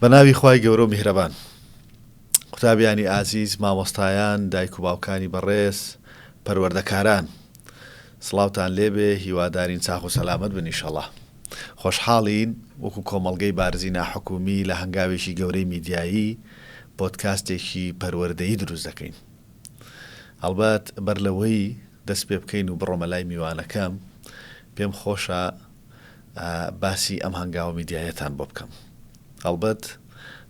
بە ناوی خوای گەورەو میهرەبان. قوتابیانی ئازیز، مامۆستایان، دایک و باوکانی بەڕێز، پەروەردەکاران. سڵاوتان لێ بێ، هیوادارین چاخ و سەلامەت بن ئیشەڵا. خۆشحاڵین وەکو کۆمەڵگەی بارزی ناحکومی لە هەنگاوێکی گەورەی میدیایی، پۆدکاستێکی پەروەردەیی دروست دەکەین. هەڵبەت بەر لەوەی دەست پێ بکەین و بڕۆمە لای میوانەکەم، پێم خۆشە باسی ئەم هەنگاوە میدیاییەتان بۆ بکەم. هەڵبەت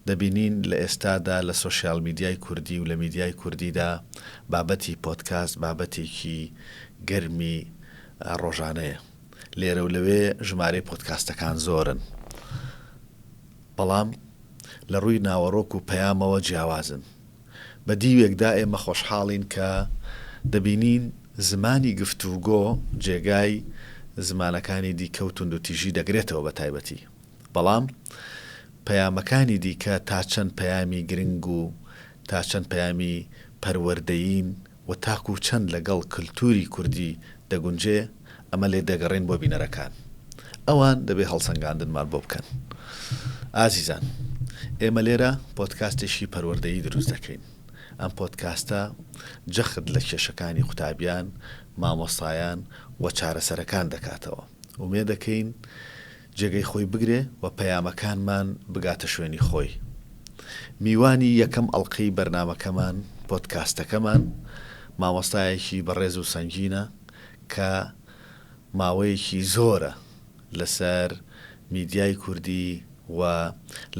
دەبینین لە ئێستادا لە سۆشیال میدیای کوردی و لە میدیای کوردیدا بابەتی پۆدکاست بابەتێکی گەرمی ڕۆژانەیە. لێرە و لەوێ ژمارەی پۆدکاستەکان زۆرن، بەڵام لە ڕووی ناوەڕۆک و پەیامەوە جیاوازن. بە دیوێکدا ئێمە خۆشحاڵین کە دەبینین زمانی گفتوگۆ جێگای زمانەکانی دیکە و توندوتیژی دەگرێتەوە بە تایبەتی، بەڵام پەیامەکانی دیکە تا چەند پەیامی گرنگ و تا چەند پەیامی پەروەردەیین، و تاکو چەند لەگەڵ کلتووری کوردی دەگونجێ ئەمە لێ دەگەڕێین بۆ بینەرەکان ئەوان دەبێ هەڵسەنگاندنمان بۆ بکەن ئازیزان ئێمە لێرە پۆدکاستێکی پەروەردەیی دروست دەکەین ئەم پۆدکاستە جەخت لە کێشەکانی قوتابیان مامۆستایان و چارەسەرەکان دەکاتەوە ئومێدەکەین جێگەی خۆی بگرێ و پەیامەکانمان بگاتە شوێنی خۆی. میوانی یەکەم ئەڵقەی بەرنامەکەمان، پۆدکاستەکەمان، مامۆستایەکی بەڕێز و سەنگینە کە ماوەیەکی زۆرە لەسەر میدیای کوردی و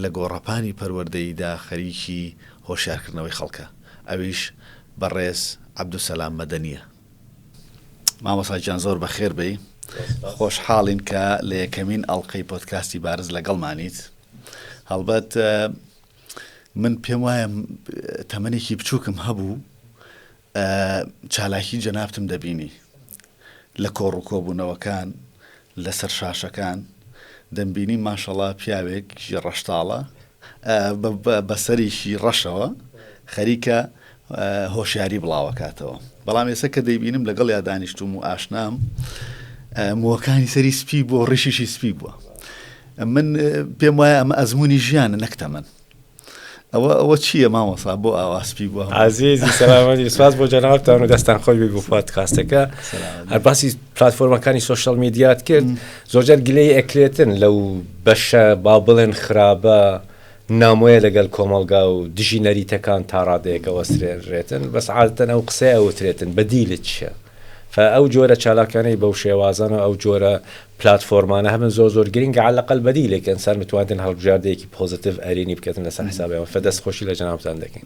لە گۆڕەپانی پەروەردەییدا خەریکی هۆشیارکردنەوەی خەڵکە، ئەویش بەڕێز عەبدولسەلام مەدەنییە. مامۆسا گیان زۆر بەخێر بێی خۆشحاڵین کە لە یەکەمین ئەڵلقەی پۆتکاستی بارز لەگەڵمانیت هەڵبەت من پێم وایە تەمەێکی بچووکم هەبوو چالاکی جەنابتم دەبینی لە کۆڕ و کۆبوونەوەکان لەسەر شاشەکان دەمبینی ماشەڵا پیاوێک ڕەشتاڵە بە سەرێکی ڕەشەوە خەریکە هۆشیاری بڵاوەکاتەوە بەڵام ئێستا کە دەیبینم لەگەڵ یا دانیشتوم و ئاشنام موەکانی سەری سپی بۆ ڕیشیشی سپی بووە من پێم وایە ئەمە ئەزمموی ژیانە نەکتەمەن ئەوە ئەوە چییە مامەسا بۆ ئاواسپی بووە ئازیزی سەلامەتی سپاس بۆ جەنابتان و دەستان خۆی بگو پادکاستەکە هەرباسی پلتفۆرمەکانی سوۆشال میدیات کرد زۆرجار گلەیی ئەکرێتن لەو بەشە با بڵێن خرابە نامۆیە لەگەل کۆمەڵگا و دژی نەریتەکان تا ڕادەیەک ئەوەسترێنرێتن بەس عادەتەن ئەو قسەیە ئەوترێتن بەدیلت چیە؟ فە ئەو جۆرە چالاکانەی بەو شێوازانە و ئەو جۆرە پلاتفۆرمانە هەبن زۆر زۆر گرینگە عەلە قەل بەدیلێک ئەنسان بتوانێتن هەڵبژاردەیەکی پۆزەتیڤ ئەرێنی بکەتن لەسەر حسابیان فە دەست خۆشی لە جەنابتان دەکەین.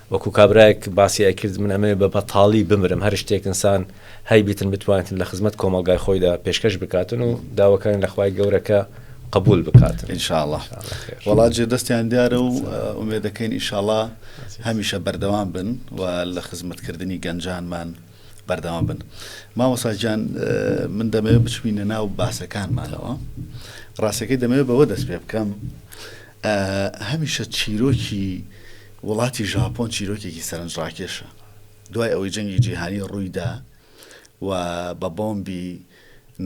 وەکو کابرایەک باسی ئەکرد من ئەمەوێ بە بەتاڵی بمرم هەر شتێک ئنسان هەی بیتن بتوانیتن لە خزمەت کۆمەڵگای خۆیدا پێشکەش بکاتن و داوەکانی لە خوای گەورەکە قبول بکات انشاءله وڵات جێ دەستیان دیارە و ئومێ دەکەین ئیشاڵا هەمیشە بەردەوام بن و لە خزمەتکردنی گەنجانمان بەردەوام بن مامۆساجان من دەمەوێت بچبینە ناو باسەکانمانەوە ڕاستەکەی دەمەوێت بەوە دەست پێ بکەم هەمیشە چیرۆکی وڵاتی ژاپۆن چیرۆکێکی سەرنجڕاکێشە. دوای ئەوەی جەنگی جیهانی ڕوویدا و بە بۆمبی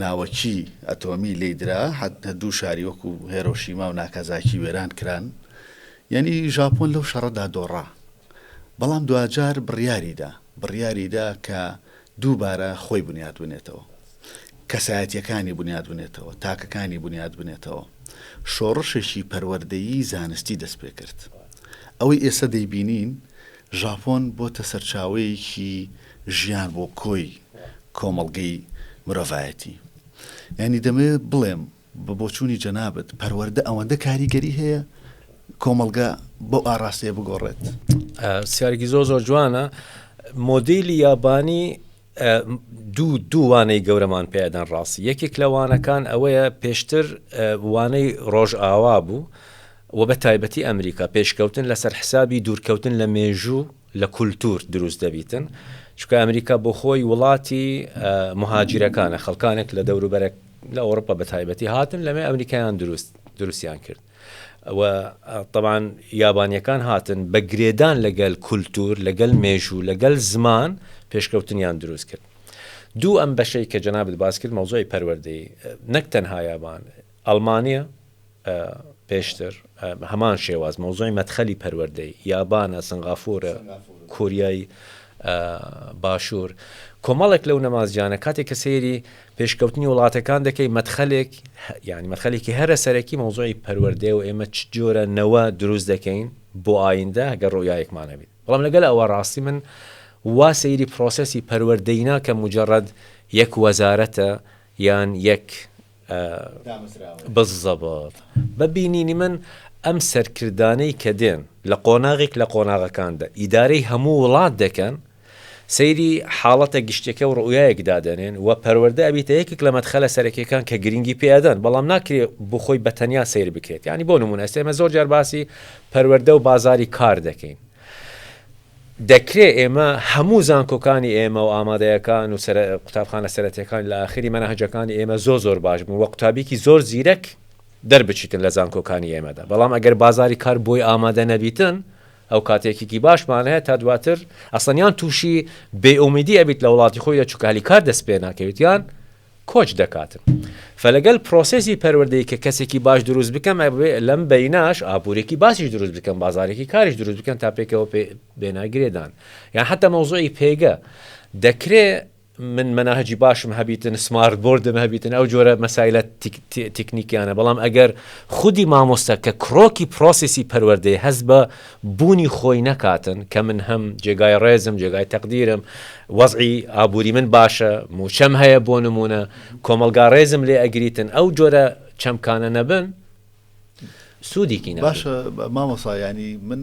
ناوەکی ئەتۆمی لێی درا، حەتە دوو شاری وەکو هێرۆشیما و ناکازاکی وێران کران. یانی ژاپۆن لەو شەڕەدا دۆڕا. بەڵام دواجار بڕیاریدا، بڕیاریدا کە. دووبارە خۆی بنیات بنێتەوە، کەسایەتییەکانی بنیات بنێتەوە، تاکەکانی بنیات بنێتەوە. شۆڕشێکی پەروەردەیی زانستی دەست پێ کرد. ئەوەی ئێستا دەیبینین، ژاپۆن بۆتە سەرچاوەیەکی ژیان بۆ کۆی کۆمەڵگەی مرۆڤایەتی. یانی دەمەوێت بڵێم، بە بۆچوونی جەنابت پەروەردە ئەوەندە کاریگەری هەیە کۆمەڵگە بەو ئاراستەیە بگۆڕێت؟ سیارێکی زۆر زۆر جوانە مۆدیلی یابانی دوو دووانەی گەورەمان پێدان ڕاستی یەکێک لە وانەکان ئەوەیە پێشتر وانەی ڕۆژ ئاوا بوو و بە تایبەتی ئەمریکا پێشکەوتن لەسەر حسابی دوورکەوتن لە مێژوو لە کولتور دروست دەبیتن چونکە ئەمریکا بۆ خۆی وڵاتی مهاجرەکانە خەڵکانێک لە دەوروبەرە لە ئەوروپا بە تایبەتی هاتن لەمێ ئەمریکایان دروست دروستیان کرد و طبعاان یابانیەکان هاتن بە گرێدان لەگەل کولتور لەگەل مێژوو لەگەل زمان پێشکەوتنیان دروست کرد دوو ئەم بەشەی کە جەنابەت باس کرد مەوزۆی پەروەردەی نەک تەنها یابان ئەلمانیا پێشتر هەمان شێواز مەوزوعی مەدخەلی پەروەردەی، یابانە، سنغافورە، کۆریای باشور، کۆمەڵێک لەو نەمازجانە کاتێک کە سەیری پێشکەوتنی وڵاتەکان دەکەی مەدخەلێک یانی مەدخەلێکی هەرە سەرەکی مەوزوعی پەروەردەیە و ئێمە چ جۆرە نەوە دروست دەکەین بۆ ئایندە گەر ڕوئیایەکمان هەبیت بەڵام لەگەل ئەوە ڕاستی من وا سەیری پرۆسەسی پەروەردەی ناکەم مجرد یەک وەزارەتە یان یەک بزەبەت بە بینینی من ئەم سەرکردانەی کە دێن لە قۆناغێک لە قۆناغەکاندا ئیدارەی هەموو وڵات دەکەن سەیری حاڵەتە گشتەکە و ڕوئایەک دادەنێن و پەروەەردە ئەبیتە یەکێک لە مەدخەلە سەرەکیەکان کە گرنگی پێدەن بەڵام ناکرێ بخۆی بە تەنیا سیر بکرێت ینی بۆ نمونە ئێستێمە زۆر جار باسی پەروەەردە و بازاری کار دەکەین دەکرێ ئێمە هەموو زانکۆکانی ئێمە و ئامادەیەکان و قوتابخانە سەرەتیەکان لە ئاخری مەنهەجەکانی ئێمە زۆر زۆر باش بن و قوتابیکی زۆر زیرەک دەربچیتن لە زانکۆکانی ئێمەدا بەڵام ئەگەر بازاری کار بۆی ئامادە نەبیتن ئەو کات یەکێکی باشمان هەیە تا دواتر ئەسڵەن یان توشی بێ ئومیدی ئەبیت لە وڵاتی خۆیدا چونکە هەلی کار دەست پێ ناکەویت یان کۆچ دەکاتن فەلەگەل پرۆسێسی پەروەردەی کە کەسێکی باش دروست بکەم ئەبێ لەم بەیناش ئابورێکی باسیش دروست بکەم بازارێکی کاریش دروست بکەن تا پێکەوە پێ بێنە گرێدان یان حتا مەوزوعی پێگە دەکرێ من مەناهجی باشم هەبیتن سمارت بردم هەبیتن ئەو جۆرە مەسایلە تکنیکیانە بەڵام ئەگەر خودی مامۆستا کە کرۆکی پرۆسیسی پەروەردەی هەست بە بوونی خۆی نەکاتن کە من هەم جێگای ڕێزم جێگای تەقدیرم وەزعی ئابووری من باشە مووچەم هەیە بۆ نموونە کۆمەڵگا ڕێزم لێ ئەگریتن ئەو جۆرە چەمکانە نەبن سوودێکی باش مامۆسایانی من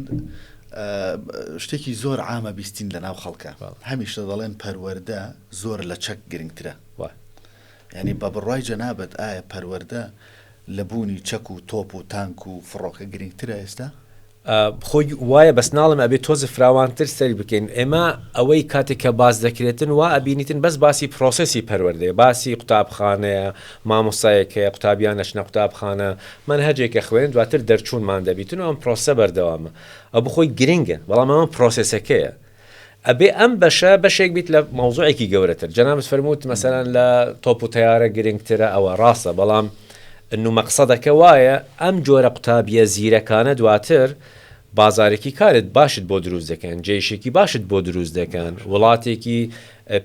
شتێکی زۆر عامە بیستین لە ناو خەڵکە هەمیشە دەڵێن پەروەەردە زۆر لە چەک گرنگترە یانی بە بڕوای جەنابت ئایا پەروەردە لە بوونی چەک و تۆپ و تانک و فڕۆکە گرینگترە ئێستا؟ خۆی وایە بەس ناڵێم ئەبێ تۆز فراوانتر سەیر بکەین ئێمە ئەوەی کاتێک کە باس دەکرێتن وا ئەبینیتن بەس باسی پرۆسسی پەروەردەیە باسی قوتابخانەیە مامۆستایەک هەیە قوتابیان ئەچنە قوتابخانە مەنهەجێک ئەخوێنن دواتر دەرچوونمان دەبیتن و ئەم پرۆسە بەردەوامە ئەو بخۆی گرنگە بەڵام ئەمە پرۆسسەکەیە ئەبێ ئەم بەشە بەشێک بیت لە مەوزوعێکی گەورەتر جەنابت فەرمووت مەسەلەن لە تۆپ و تەیارە گرنگترە ئەوە ڕاستە بەڵام نو مەقسەدەکە وایە ئەم جۆرە قوتابیە زیرەکانە دواتر بازارێکی کارت باشت بۆ دروست دەکەن جێیشێکی باشت بۆ دروست دەکەن وڵاتێکی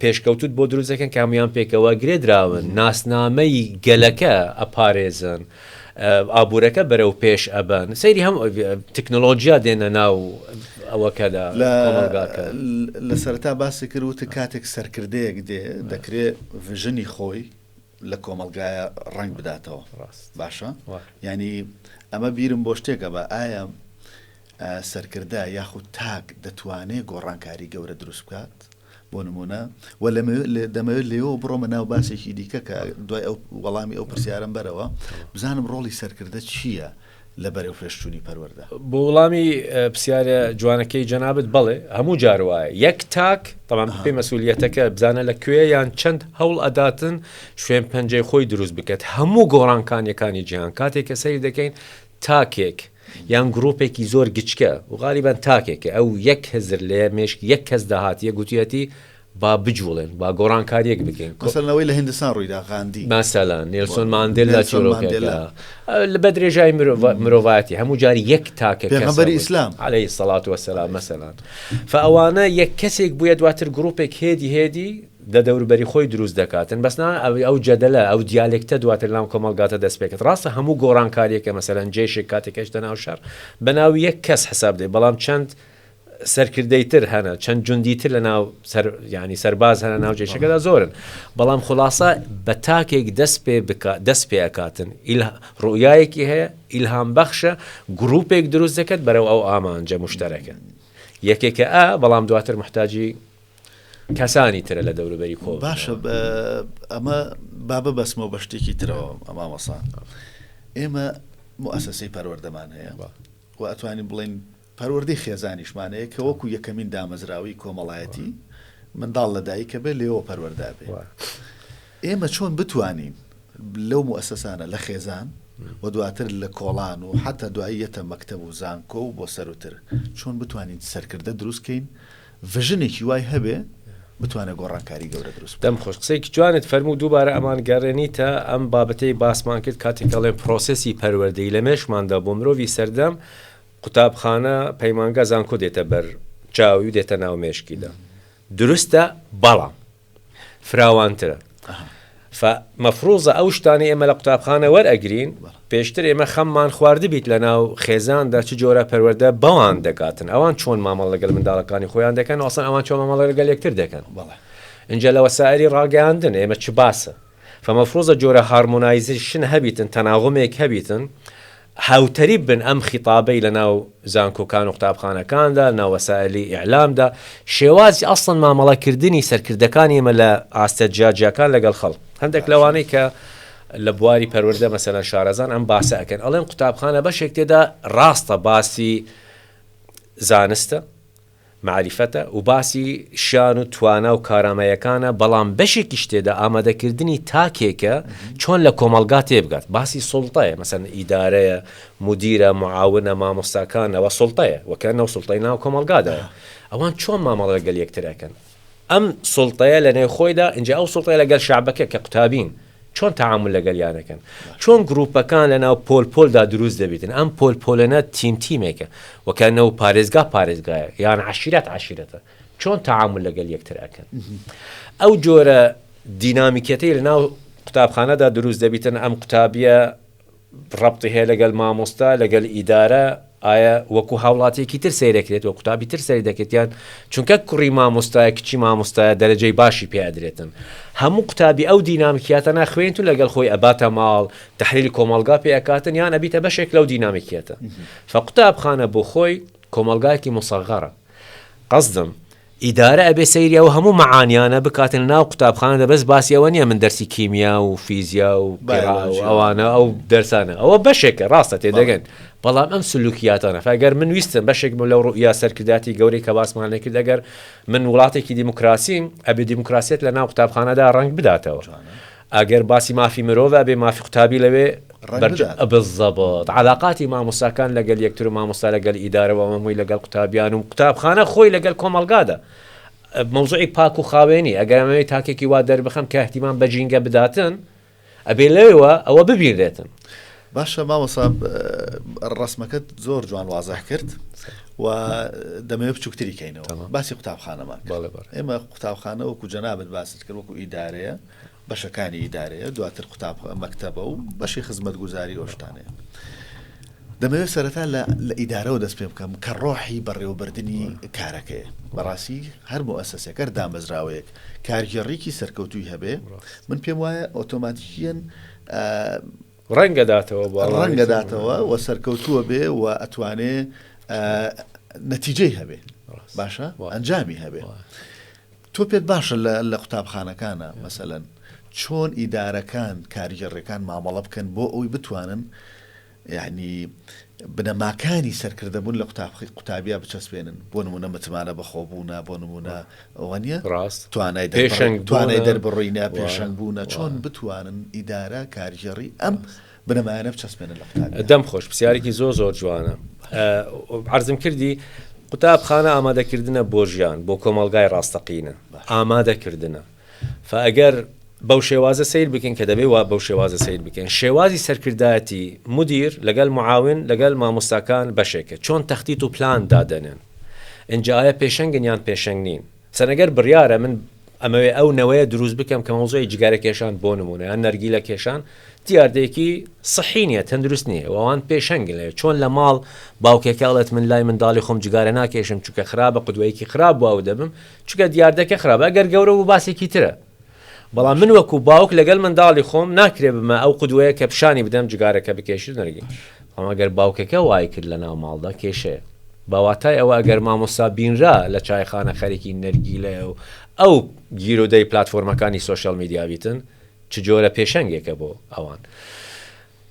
پێشکەوتوت بۆ دروست دەکەن کە هەموان پێکەوە گرێ دراون ناسنامەی گەلەکە ئەپارێزن ئابورەکە بەرەو پێش ئەبەن سەیری هەم تکنۆلۆجیا دێنە ناو ئەوەکەدا کۆمەڵگاکە لە سەرتا باسی کرد وتە کاتێک سەرکردەیەک دێ دەکرێ ڤژنی خۆی لە کۆمەڵگایا ڕەنگ بداتەوە ڕاست باشە یانی ئەمە بیرم بۆ شتێکە بە ئایا سەرکردە یاخود تاک دەتوانێت گۆڕانکاری گەورە دروست بکات بۆ نمونە و دەمەوێت لێەوە بڕۆمە ناو باسێکی دیکە کە دوای ئەو وەڵامی ئەو پرسیارم بەرەوە بزانم ڕۆڵی سەرکردە چییە لە بەرەوپێشچوونی پەروەردە. بۆ وڵامی پرسیارە جوانەکەی جەنابت بەڵێ هەموو جار وایە یەک تاک تەمان بپی مەسولیەتەکە بزانە لە کوێ یان چەند هەوڵ ئەداتن شوێن پەنجەی خۆی دروست بکات هەموو گۆڕانکانیەکانی جیهان کاتێک کە سەری دەکەین تاکێک یان گرروپێکی زۆر گچکە و غالیبان تاکێکە ئەو یەک هزر لێ مێشک یەک کەس داهاتیە گوتیەتی با بجووڵێن، با گۆڕانکارییەک بکەین. مەسەلەن ئەوەی لە هیندستان ڕوویدا، غاندی. مەسەلەن نێلسۆن ماندێلا چیرۆکێکە بە درێژایی مرۆڤایەتی، هەموو جار یەک تاکە کەس. پێغەمبەری ئیسلام. علیە الصلوة و السلام مەسەلەن. فە ئەوانە یەک کەسێک بوویە دواتر گرووپێک هێدی هێدی لە دەوروبەری خۆی دروست دەکاتن، بەس نا ئەو جەدەلە، ئەو دیالێکتە دواتر لەناو کۆمەڵگاتە دەست پێ کرد. ڕاستە هەموو گۆڕانکارییەکە مەسەلەن جەیشێک کاتێک ئەچتە ناو شەڕ، بەناو یەک کەس حساب دێ، بەڵام چەند. سەرکردەی تر هەنە چەند جوندی تر لە ناو سەر یانی سەرباز هەنە ناو جێشەکەدا زۆرن بەڵام خلاصە بە تاکێک دەست پێ بک دەست پێ ئەکاتن ئیلا ڕوئایەکی هەیە ئیلهام بەخشە گروپێک دروست دەکەت بەرەو ئەو ئامانجە مشتەرەکە یەکێکە ئا بەڵام دواتر محتاجی کەسانی ترە لە دەوروبەری کۆ باشە ئەمە بابە بەسمەوە بە شتێکی ترەوە ئەما مەسان ئێمە مؤسسەی پەروەردەمان هەیە و ئەتوانین بڵین پەروەردەی خێزانیشمانەیە کە وەکو یەکەمین دامەزراوەی کۆمەڵایەتی منداڵ لە دایکە بێت لێوە پەروەردە بێت ئێمە چۆن بتوانین لەو موئەسەسانە لە خێزان و دواتر لە کۆڵان و حتا دوایی یەتە مەکتەب و زانکۆ و بۆ سەروتر چۆن بتوانین سەرکردە دروست کەین ڤژنێکی وای هەبێ بتوانە گۆڕانکاری گەورە دروست دەم خۆش قسەیەکی جوانت فەرموو دووبارە ئەمان گەڕێنیتە ئەم بابەتەی باسمان کرد کاتێک دەڵێن پرۆسسی پەروەردەی لە مێشماندا بۆ مرۆڤی سەردەم قوتابخانە، پەیمانگا، زانکۆ دێتە بەر چاوی و دێتە ناو مێشکیدا. دروستە بەڵام فراوانترە. ف مەفروزە ئەو شتانەی ئێمە لە قوتابخانە وەرئەگرین پێشتر ئێمە خەممان خواردبیت لە ناو خێزاندا چ جۆرە پەروەردە بەوان دەگاتن ئەوان چۆن مامەڵە لەگەل منداڵەکانی خۆیان دەکەن و ئەسڵەن ئەوان چۆن مامەڵە لەگەل یەکتر دەکەن. ئینجا لە وەسائلی ڕاگەیاندن ئێمە چ باسە. فمفروزە جۆرە هارمۆنایزیشن هەبیتن تەناغمێک هەبیتن هاوتەریب بن ئەم خیتابەی لە ناو زانکۆکان و قوتابخانەکاندا ناو وەسائلی ئیعلامدا شێوازی ئەسڵەن مامەڵە کردنی سەرکردەکانی ئێمە لە ئاستە جیا جیاکان لەگەڵ خەڵک هەندێک لەوانەی کە لە بواری پەروەردە مەسەلەن شارەزان ئەم باسە ئەکەن ئەڵێن قوتابخانە بەشێک تێدا ڕاستە باسی زانستە مەعریفەتە و باسی شان و توانا و کارامەیەکانە، بەڵام بەشێکیش تێدا ئامادەکردنی تاکێکە چۆن لە کۆمەڵگا تێبگات، باسی سوڵتەیە، مەسەلەن ئیدارەیە، مودیرە، معاونە، مامۆستاکان، ئەوە سوڵتەیە، وەکەنەو سوڵتەی ناو کۆمەڵگادایە، ئەوان چۆن مامەڵە لەگەڵ یەکتر ئەکەن؟ ئەم سوڵتەیە لە نێو خۆیدا ئینجا ئەو سوڵتەیە لەگەل شەعبەکە کە قوتابین چۆن تەعامول لەگەلیان ئەکەن چۆن گروپەکان لە ناو پۆل پۆلدا دروست دەبیتن ئەم پۆل پۆلەنە تیم تیمێکە وە کە نەو پارێزگا پارێزگایە یان عەشیرەت عەشیرەتە چۆن تەعامول لەگەل یەکتر ئەکەن ئەو جۆرە دینامیکیەتەی لە ناو قوتابخانەدا دروست دەبیتن ئەم قوتابیە ڕەبتی هەیە لەگەل مامۆستا لەگەل ئیدارە ئایا وەکو هاوڵاتیەکی تر سەیرەکرێت وە قوتابی تر سەری دەکرێت یان چونکە کوڕی مامۆستایە کچی مامۆستایە دەرەجەی باشی پێ ئەدرێتن هەموو قوتابی ئەو دینامکیاتە ناخوێنیت و لەگەل خۆی ئەباتە ماڵ تحلیلی کۆمەڵگا پێ ئەکاتن یان ئەبیتە بەشێک لەو دینامیکیەتە فە قوتابخانە بۆ خۆی کۆمەڵگایەکی موسەغەرە قەسدم ئیدارە ئەبێ سەیری ئەو هەموو مەعانیانە بکاتن ناو قوتابخانە دە بەس باسی ئەوە نیە من دەرسی کیمیا و فیزیا و قیرا و ئەوانە ئەو دەرسانە ئەوە بەشێکە ڕاستە تێدەگەن بەڵام ئەم سلوکیاتانە فەگەر من ویستم بەشێک بۆ لەو ڕوئیا سەرکرداتی گەورەی کە باسمان لێکرد ئەگەر من وڵاتێکی دیموکراسیم ئەبێ دیموکراسیت لە ناو قوتابخانەدا ڕەنگ بداتەوە. ئەگەر باسی مافی مرۆڤ ئەبێ مافی قوتابی لەوێ ڕەنگ بەرجە بدات. بالضبط عەلاقاتی مامۆستاکان لەگەل یەکتر و مامۆستا لەگەل ئیدارە و هەمووی لەگەل قوتابیان و قوتابخانە خۆی لەگەل کۆمەلگادا مەوزوعی پاک و خاوێنی ئەگەر ئەمەوێ تاکێکی وا دەربخەم کە اهتمام بە جینگە بداتن ئەبێ لەوێوە ئەوە ببینرێتن. باشە مامۆسا ڕەسمەکەت زۆر جوان وازح کرد و دەمەوێ بچووکتری کەینەوە تەمام. باسی قوتابخانەمان کرد بەڵێ بەڕێز. ئێمە قوتابخانە وەکو جەنابت باست کرد وەکو ئیدارەیە بەشەکانی ئیدارەیە، دواتر قوتاب مەکتەبە و بەشی خزمەتگوزاری و شتانەیە. دەمەوێت سەرەتا لە لە ئیدارەوە دەست پێ بکەم کە ڕۆحی بەڕێوەبردنی کارەکەیە. بەڕاستی هەر موئەسەسەیەک، هەر دامەزراوەیەک کارگێڕیکی سەرکەوتووی هەبێ، من پێم وایە ئۆتۆماتیکیەن، ڕەنگە داتەوە بۆ ئەوانەی ڕەنگە داتەوە و سەرکەوتووە بێ و ئەتوانێ نەتیجەی هەبێ، باشە ئەنجامی هەبێ. تۆ پێت باشە لە قوتابخانەکانا مەسەلەن چۆن ئیدارەکان کارگێڕێکان مامەڵە بکەن بۆ ئەوی بتوانن یعنی بنەماکانی سەرکردەبوون لە قوتابخی قوتابیا بچەسپێنن بۆ نمونە متمانە بەخۆبوونا بۆ نمونە ئەوە نیە ڕاست توانای پێشنگ توانای دەربڕینە پێشنگ بوونە چۆن بتوانن ئیدارە کارگێڕی ئەم بنەمایانە بچەسپێنن لە قوتابیان. دەم خۆش پرسیارێکی زۆر زۆر جوانە عرضم کردی قوتابخانە ئامادەکردنە بۆ ژیان بۆ کۆمەلگای ڕاستەقینە ئامادەکردنە فئەگەر بەو شێوازە سیر بکەین کە دەبێ وا بەو شێوازە سیر بکەین شێوازی سەرکردایەتی مدیر لەگەل معاون لەگەل مامۆستاکان بەشێکە چۆن تەختی و پلان دادەنێن ئنجاە پێشەنگن یان پێشەنگ نین چەنەگەر بڕیارە من ئەمەوێ ئەو نەوەیە دروست بکەم کە مەوزوعی جگارە کێشان بۆ نمونە یان نەرگیلە کێشان دیاردەیەکی صحی نیە تەندروست نیە وان پێشەنگ لێ چۆن لە ماڵ باوکێکاڵێت من لای منداڵی خۆم جگارە ناکێشم چکە خراپە قدوەیەکی خراپ بووە دەبم چکە دیاردەکە خراپە گەر گەورە و باسێکی ترە بەڵام من وەکو باوک لەگەل منداڵی خۆم ناکرێ بمە ئەو قودوەیە کە پشانی بدەم جگارەکە بکێشی و نەرگیل بەڵام ئەگەر باوکەکە وای کرد لە ناو ماڵدا کێشەیە بە واتای ئەوە ئەگەر مامۆستا بینرا لە چایخانە خەریکی نەرگیلەیە و ئەو گیرودەی پلاتفۆرمەکانی سۆشیال میدیا بیتن چ جۆرە پێشەنگێکە بۆ ئەوان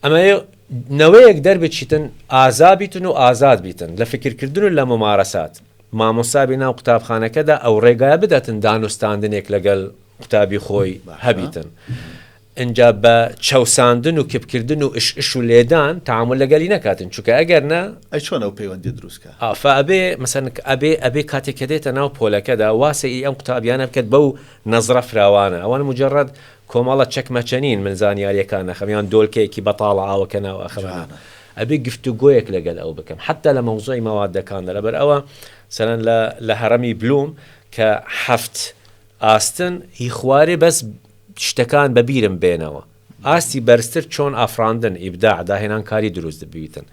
ئەمە نەوەیەک دەربچیتن ئازا بیتن و ئازاد بیتن لە فکرکردن و لە ممارەسات مامۆستا بی ناو قوتابخانەکەدا ئەو ڕێگایە بدەتن دانوستاندنێک لەگەل قوتابی خۆی هەبیتن ئنجا بە چەوساندن و کپکردن و اش اش و لێدان تعامل لەگەلی نەکاتن چونکە ئەگەر نا ئەی چۆن ئەو پەیوەندی دروست کا؟ ئا فە ئەبێ مەسەن ئەبێ ئەبێ کاتێک کە دێتە ناو پۆلەکەدا وا سە ی ئەم قوتابیانە بکەت بەو نەزرە فراوانە ئەوان موجەڕەد کۆمەڵە چەکمەچە نین من زانیاریەکان ئەخەم یان دۆلکەیەکی بەتاڵە ئاوەکە ناو ئەخەمە ناو. ئەبێ گفتوگۆیەک لەگەل ئەو بکەم حەتا لە مەوزوعی مەوادەکاندا لەبەر ئەوە سەرەن لە لە هەڕەمی بلوم کە حەفت ئاستن ی خوارێ بەس شتەکان بە بیرم بێنەوە ئاستی بەرزتر چۆن ئافڕاندن ئیبداع داهێنان کاری دروست دبیتن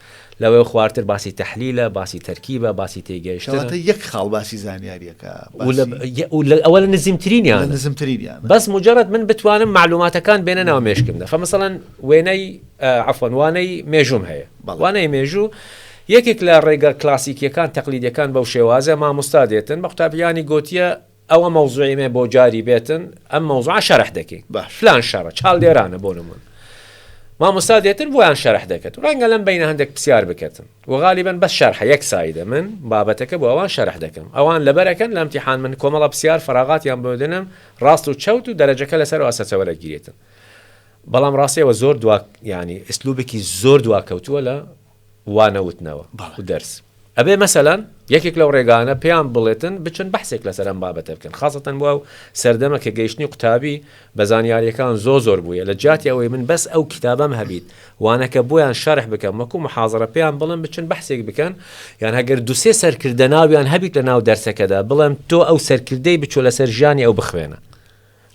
لەوەی خوارتر باسی تەحلیلە باسی تەرکیبە باسی تێگەیشتنە کەواتە یەک خاڵ باسی زانیاریەکە و لە باسی و لە ئەوە لە نزیمترینیان نزمترینیان بەس مجرد من بتوانم معلوماتەکان بێنە ناو مێشکمدا فمثلا وێنەی عەفوەن وانەی مێژووم هەیە. وانەی مێژوو یەکێک لە ڕێگە کلاسیکیەکان تەقلیدیەکان بەو شێوازە مامۆستا دێتن بە قوتابیانی گۆتیە ئەوە مەوزوعی مە بۆ جاری بێتن ئەم مەوزوعە شەرح دەکەین فلان شەڕە چاڵدێرانە بۆ نموون مامۆستا دێتن بۆیان شەرح دەکەت ڕەنگە لەم بینە هەندێک پرسیار بکەتن و غالیبن بەس شەرحە یەک سایدە من بابەتەکە بۆ ئەوان شەرح دەکەم ئەوان لەبەرەکەن لەم تیحان من کۆمەڵە پرسیار فراغاتیان بۆدنم ڕاست و چەوت و دەرەجەکە لەسەر ئاسەچەوە دەگیرێتن بەڵام ڕاستە ئێوە زۆر دوا یانی ئسلوبێکی زۆر دواکەوتووە لە وانە وتنەوە و دەرس ئەبێ مەسەلەن یەکێک لەو ڕێگانە پێیان بڵێتن بچن بەحسێک لەسەر ئەم بابەتە بکەن خاستەن بووە و سەردەمە کە گەیشتنی قوتابی بە زانیاریەکان زۆ زۆر بووە لە جیاتی ئەوەی من بەس ئەو کتابم هەبیت وانەکە بۆیان شەرح بکەم وەکو محاضرە پێیان بڵم بچن بەحسێک بکەن یان هەگەر دوسێ سەرکردە ناویان هەبیت لە ناو دەرسەکەدا بڵێم تۆ ئەو سەرکردەی بچۆ لەسەر ژیانی ئەو بخوێنە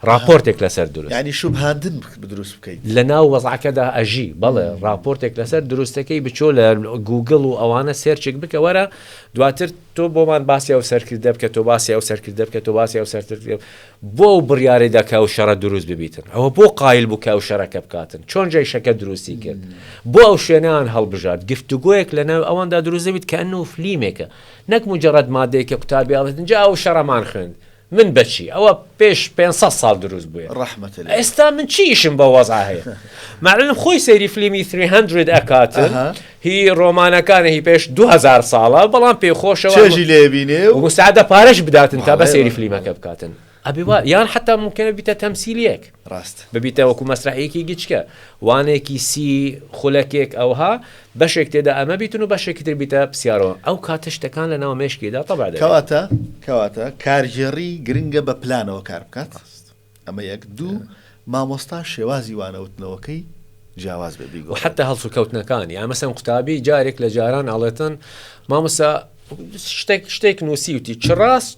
ڕاپۆرتێک لەسەر دروست. یانی شوبهاندن دروست بکەی. لەناو وەزعەکەدا ئەژی. بەڵێ ڕاپۆرتێک لەسەر دروستەکەی بچۆ لە گووگڵ و ئەوانە سێرچێک بکە وەرە دواتر تۆ بۆمان باسی ئەو سەرکردە بکە تۆ باسی ئەو سەرکردە بکە تۆ باسی ئەو سەرکردە بۆ ئەو بڕیارەی دا کە ئەو شەڕە دروست ببیتن ئەوە بۆ قایل بوو کە ئەو شەرەکە بکاتن چۆن جەیشەکە دروستی کرد بۆ ئەو شوێنیان هەڵبژارد گفتوگۆیەک لەناو ئەواندا دروست دەبیت کە ئەنو فلیمێکە نەک مجرد مادەیەکە قوتابی ئەڵێتن جا ئەو شەڕەمان خوێند من بەچی ئەوە پێش پێنج سەد ساڵ دروست بووێ ڕەحمەتە لێی. ئێستا من چی ئیشم بەو وەزعە هەیە مەعلم خۆی سەیری فلیمی ثری هەندرد ئەکاتن ئەها. هی ڕۆمانەکانە هی پێش دوو هەزار ساڵە بەڵام پێی خۆشەوە چێژی لێ بینێ و ومستعدە پارەش بداتن تا بە بەڵێ، سەیری بەڵێ، فلیمەکە بەڵێ. بکاتن ئەبێ وا یان حەتا مومکینە بیتە تەمسیلیەک. ڕاست ببیتە وەکو مەسرەحیەکی گچکە وانێکی سی خولەکێک ئەوها بەشێک تێدا ئەمە بیتن و بەشێکی تر بیتە پسیارەوە ئەو کاتە شتەکان لە ناو مێشکیدا تەبع دەبێت. کەواتە کەواتە کارگێڕی گرنگە بە پلانەوە کار بکات ئەمە یەک دوو مامۆستا شێوازی وانەوتنەوەکەی جیاواز بێ بیگۆ حتى هەڵسو کەوتنەکان یا مەسەن قوتابی جارێک لە جاران ئاڵێتن مامۆستا شتێک شتێک نووسیوتی چ ڕاست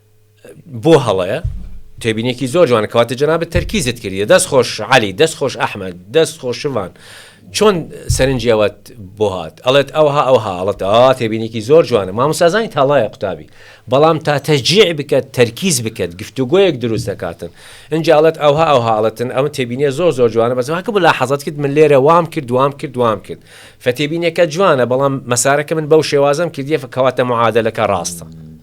بۆ هەڵەیە؟ تێبینێکی زۆر جوان کەواتە جنابت تەرکیزت کردە دەست خۆش علی دەست خۆش ئەحمد دەست خۆشمان چۆن سەرنجەوەت بۆ هاات ئەڵێت ئەوها ئەو هاڵت ئا تێبینێکی زۆر جوانە مامۆسازانی تاڵایە قوتابی بەڵام تا تەجیع بکات تەرکیز بکات گفتوگوۆیەک دروست دەکاتن ئەجاالت ئەوها ئەو هاڵەتن ئەم تێبینە زۆر زۆر جوانە بەسواکە بۆ لا حەزت کرد من لێرە وام کرد وام کرد وام کرد فەتێبینەکە جوانە بەڵام مەسارەکە من بەو شێوازم کردیە فکەواتە معادلەکە ڕاستە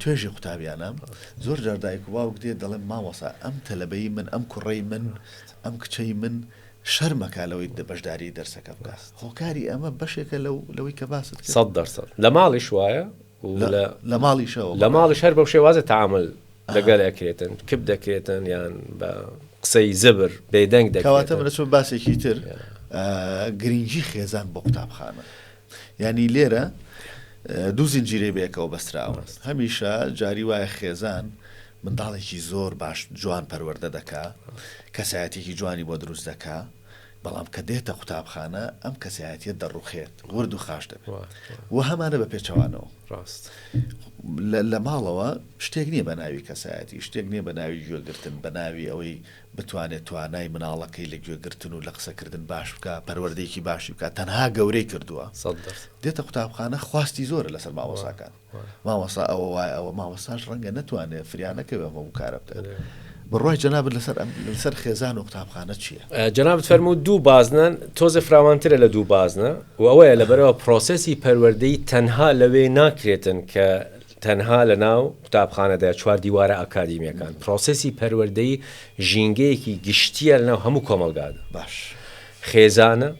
توێژی قوتابیانە زۆر جار دایک و باوک دێت دەڵێن مامۆسا ئەم تەلەبەی من ئەم کوڕەی من ئەم کچەی من شەرمەکە لەوەی دە بەشداری دەرسەکە بکە هۆکاری ئەمە بەشێکە لەو لەوەی کە باست سەد دەرسەد لە ماڵیش وایە لە ماڵیشەوە لە ماڵیش هەر بەو شێوازە تعامل لەگەل ئەکرێتن کپ دەکرێتن یان بە قسەی زبر بێدەنگ دەکەواتە منە چۆن باسێکی تر گرنگی خێزان بۆ قوتابخانە. یانی لێرە دوو زنجیرەی بەیەکەوە بەستراون هەمیشە جاری وایە خێزان منداڵێکی زۆر باش جوان پەروەەردە دەکا کەسایەتێکی جوانی بۆ دروست دەکا بەڵام کە دێتە قوتابخانە ئەم کەسایەتە دەڕوخێت ورد و خاش دەبێت و هەمانە بە پێچەوانەوە ڕاست لە ماڵەوە شتێک نییە بە ناوی کەسایەتی شتێک نییە بە ناوی گوێگرتن بە ناوی ئەوەی بتوانێت توانای مناڵەکەی لە گوێگرتن و لە قسەکردن باش بکا پەروەردەیەکی باشی بکا تەنها گەورەی کردووە دێتە قوتابخانە خواستی زۆرە لەسەر مامۆساکان مامۆسا ئەوە وایە ئەوە مامۆساش ڕەنگە نەتوانێت فریانەکەوێ ئەمە و کارە بکات بڕای جەنابت لەسەر ئەم لەسەر خێزان و قوتابخانە چییە جەنابت فەرمو دوو بازنن تۆزە فراوانترە لە دوو بازنە و ئەوەیە لەبەرەوە پرۆسسی پەروەردەی تەنها لەوێ ناکرێتن کە تەنها لە ناو قوتابخانەدا، چوار دیوارە ئاکادیمیەکان، پرۆسێسی پەروەردەیی ژینگەیەکی گشتیە لە ناو هەموو کۆمەڵگادا. باش. خێزانە،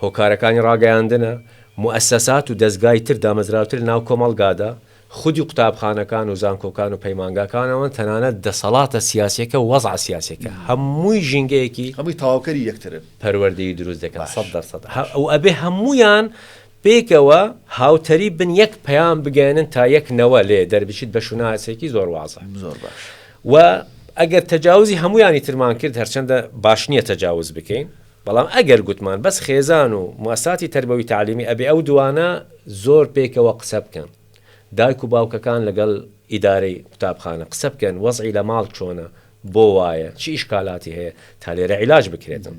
هۆکارەکانی ڕاگەیاندنە، موئەسەسات و دەزگای تر دامەزراوتر لە ناو کۆمەڵگادا، خودی قوتابخانەکان و زانکۆکان و پەیمانگاکانەوەن، تەنانەت دەسەڵاتە سیاسیەکە و وەزع سیاسیەکە، هەمووی ژینگەیەکی. هەمووی تەواوکەری یەکترن. پەروەردەیی دروست دەکەن، سەد دەر سەد. ئەوئەبێ هەموویان. پێکەوە هاوتەریب بن یەک پەیام بگەیەنن تا یەک نەوە لێ دەربچیت بە شوناسێکی زۆر وازە زۆر باش. و ئەگەر تەجاوزی هەموویانی ترمان کرد هەرچەندە باش نییە تەجاوز بکەین بەڵام ئەگەر گوتمان بەس خێزان و موەسساتی تەربەوی تەعلیمی ئەبێ ئەو دووانە زۆر پێکەوە قسە بکەن دایک و باوکەکان لەگەڵ ئیدارەی قوتابخانە قسە بکەن وەزعی لە ماڵ چۆنە بۆ وایە؟ چ ئیشکالاتی هەیە؟ تا لێرە عیلاج بکرێتن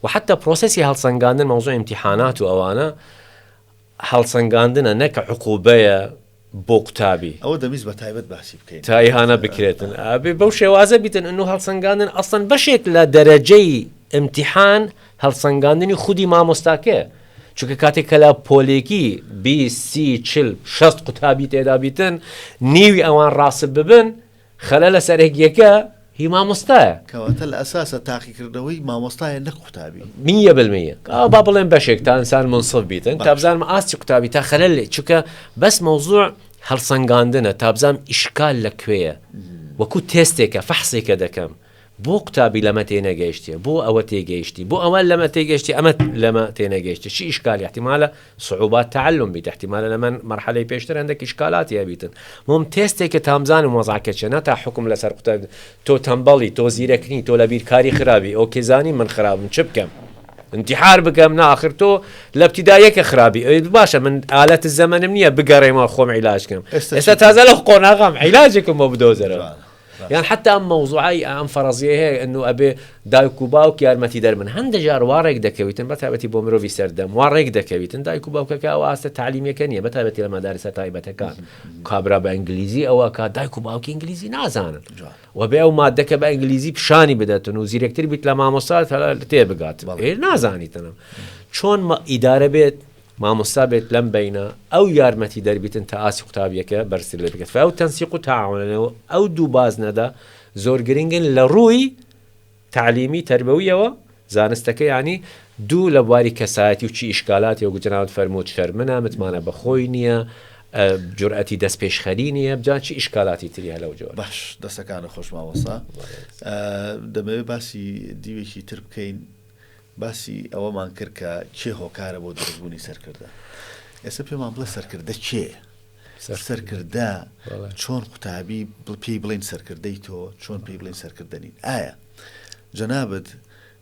و حەتتا پرۆسێسی هەڵسەنگاندن مەوزوعی ئیمتیحانات و ئەوانە هەڵسەنگاندنە نەک عقوبەیە بۆ قوتابی. ئەوە دەمویست بە تایبەت باسی بکەین. تا ئیهانە بکرێتن ئەبێ بەو شێوازە بیتن ئەنوو هەڵسەنگاندن ئەسڵەن بەشێک لە دەرەجەی ئیمتیحان هەڵسەنگاندنی خودی مامۆستاکەیە چونکە کاتێک کە لە پۆلێکی بیست سی چل شەست قوتابی تێدا بیتن نیوی ئەوان ڕاسب ببن خەلەلە سەرەکیەکە هی مامۆستایە. کەواتە لە ئەساسا تاقیکردنەوەی مامۆستایە نەک قوتابی. میە بالمیە ئەوە با بڵێم بەشێک تا ئینسان مونسف بیتن تا بزانم ئاستی قوتابی تا خەلەل لێ چونکە بەس مەوزوع هەڵسەنگاندنە تا بزانم ئیشکال لە کوێیە وەکو تێستێکە فەحسێکە دەکەم. بۆ قوتابی لەمە تێنەگەیشتێ بۆ ئەوە تێگەیشتی بۆ ئەوە لەمە تێگەشتی ئەمە لەمە تێنەگەیشتی چ ئیشکالی احتمالە صعوبات تعلم بیت احتمالە لەمن مەرحەلەی پێشتر هەندێک ئیشکالاتی هەبیتن مۆم تێستێکە تا بزانم وەزعەکە چیە نا تا حوکم لەسەر قوتاب تۆ تەمبەڵی تۆ زیرەک نی تۆ لە بیرکاری خرابی ئۆکێ زانی من خرابم چ بکەم انتحار بکەم نا آخر تۆ لە ابتدا یەکە خرابی ئەوێت باشە من ئالەت زەمەنم نییە بگەڕێمەوە خۆم عیلاج کەم ئێستا تازە لە قۆناغام عیلاجێکم بۆ بدۆزەرەوە یان حەتا ئەم مەوزوعەی ئەم فەرەزیەی هەیە ئەنوو ئەبێ دایک و باوک یارمەتی دەر بن هەندە جار وا ڕێک دەکەویتن بە تابەتی بۆ مرۆڤی سەردەم وا ڕێک دەکەویتن دایک و باوکەکە ئەو ئاستە تعلیمیەکە نیە بە تابەتی لە مەدارسە تایبەتەکان کابرا بە ئەنگلیزی ئەوە کا دایک و باوکی ئنگلیزی نازانن و بێ ئەو مادەکە بە ئەنگلیزی پیشانی بدەتن و زیرەکتر بیت لە مامۆسا تێ بگات نازانیتنم چۆن ئیدارە بێت مامۆستا بێت لەم بەینە ئەو یارمەتی دەربیتن تا ئاستی قوتابیەکە بەرزتر لێ بکەت فەو تەنسیق و تاعاونە و ئەو دوو بازنەدە زۆر گرنگن لە ڕووی تەعلیمی تەربەویەوە زانستەکە یانی دوو لە بواری کەسایەتی و چی ئیشکالات یۆک جنابت فەرمووت شەرمنە متمانە بە خۆی نییە جورئەتی دەست پێشخەری نییە بجان چی ئیشکالاتی تری هەلە و جۆ باش دەسەکانە خۆش ماوەسا دەمەوێت باسی دیوێکی تر بکەین باسی ئەوەمان کرد کە کێ هۆکارە بۆ دروست بوونی سەرکردە. ئێستا پێمان بڵێ سەرکردە کێیە؟ سەرکردە چۆن قوتابی پێی بڵین سەرکردەی تۆ چۆن پێی بڵین سەرکردە نین ئایا جەنابەت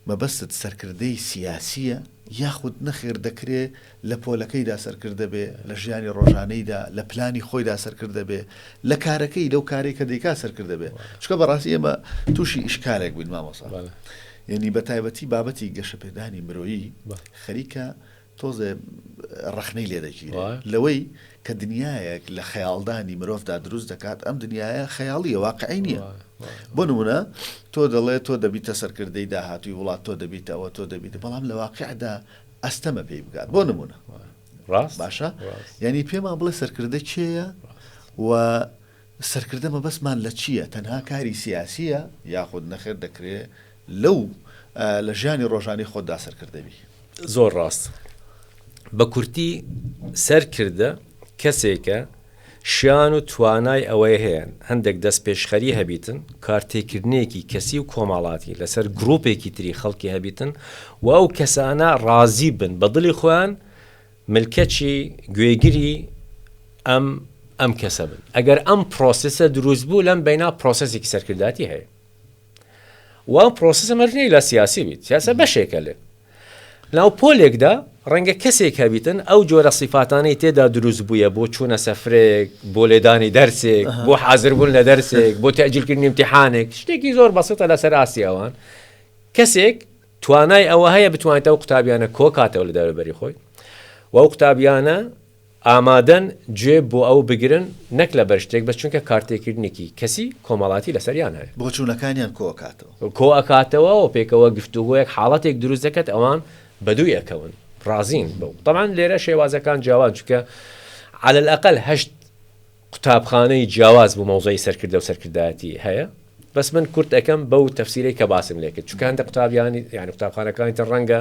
مەبەستت سەرکردەی سیاسیە یاخود نەخێر دەکرێ لە پۆلەکەیدا سەرکردە بێ، لە ژیانی ڕۆژانەیدا، لە پلانی خۆیدا سەرکردە بێ، لە کارەکەی، لەو کارەی کە دەیکات سەرکردە بێ. چونکە بە ڕاستی ئێمە تووشی ئیشکالێک بووین مامۆسا. یانی بە تایبەتی بابەتی گەشەپێدانی مرۆیی خەریکە تۆزێ ڕەخنەی لێ دەگیرێ لەوەی کە دنیایەک لە خەیاڵدانی مرۆڤدا دروست دەکات، ئەم دنیایە خەیاڵییە واقعی نییە. بۆ نموونە تۆ دەڵێ تۆ دەبیتە سەرکردەی داهاتووی وڵات، تۆ دەبیتە ئەوە، تۆ دەبیتە، بەڵام لە واقعدا ئەستەمە پێی بگات بۆ نمونە ڕاست باشە یعنی پێمان بڵێ سەرکردە کێیە و سەرکردە مەبەستمان لە چییە تەنها کاری سیاسیە یاخود نەخێر دەکرێ لەو لە ژیانی ڕۆژانی خۆدا سەرکردەوی زۆر ڕاست بە کورتی سەرکردە کەسێکە شان و توانای ئەوەی هەیەن هەندێک دەستپێشخەری هەبیتن، کارتێکردنێکی کەسی و کۆمەاڵاتی لەسەر گڕوپێکی تری خەڵکی هەبیتن و ئەو کەسانە ڕازی بن بە دڵی خۆیان ملکەچی، گوێگری، ئەم ئەم کەسە بن. ئەگەر ئەم پرۆسسە دروست بوو لەم بەینا پرۆسسێکی سەرکردایەتی هەیە و ئەم پرۆسسە مەرج نیە ئیلا سیاسی بیت، سیاسەت بەشێکە لێ. لەناو پۆلێکدا ڕەنگە کەسێک هەبیتن ئەو جۆرە سیفاتانەی تێدا دروست بوویە بۆ چوونە سەفرەیەک، بۆ لێدانی دەرسێک، بۆ حازربوون لە دەرسێک، بۆ تەئجیلکردنی ئیمتیحانێک، شتێکی زۆر بەسیتە لەسەر ئاستی ئەوان، کەسێک توانای ئەوە هەیە بتوانێت ئەو قوتابیانە کۆکاتەوە لە دەوروبەری خۆی و ئەو قوتابیانە، ئامادەن گوێ بۆ ئەو بگرن نەک لەبەر شتێک بەس چونکە کارتێکردنێکی کەسی کۆمەڵاتی لەسەریان هەیە. بۆچوونەکانیان کۆ ئەکاتەوە. کۆ ئەکاتەوە و پێکەوە گفتوگۆیەک حاڵەتێک دروست دەکەت ئەوان بەدووی ئەکەون ڕازین بەو تەبعەن لێرە شێوازەکان جیاوازن چونکە عەلە الئەقەل هەشت قوتابخانەی جیاواز بۆ مەوزەعی سەرکردە و سەرکردایەتی هەیە بەس من کورت ئەکەم بەو تەفسیرەی کە باسم لێکرد چونکە هەندێک قوتابیانی یانی قوتابخانەکانی تر ڕەنگە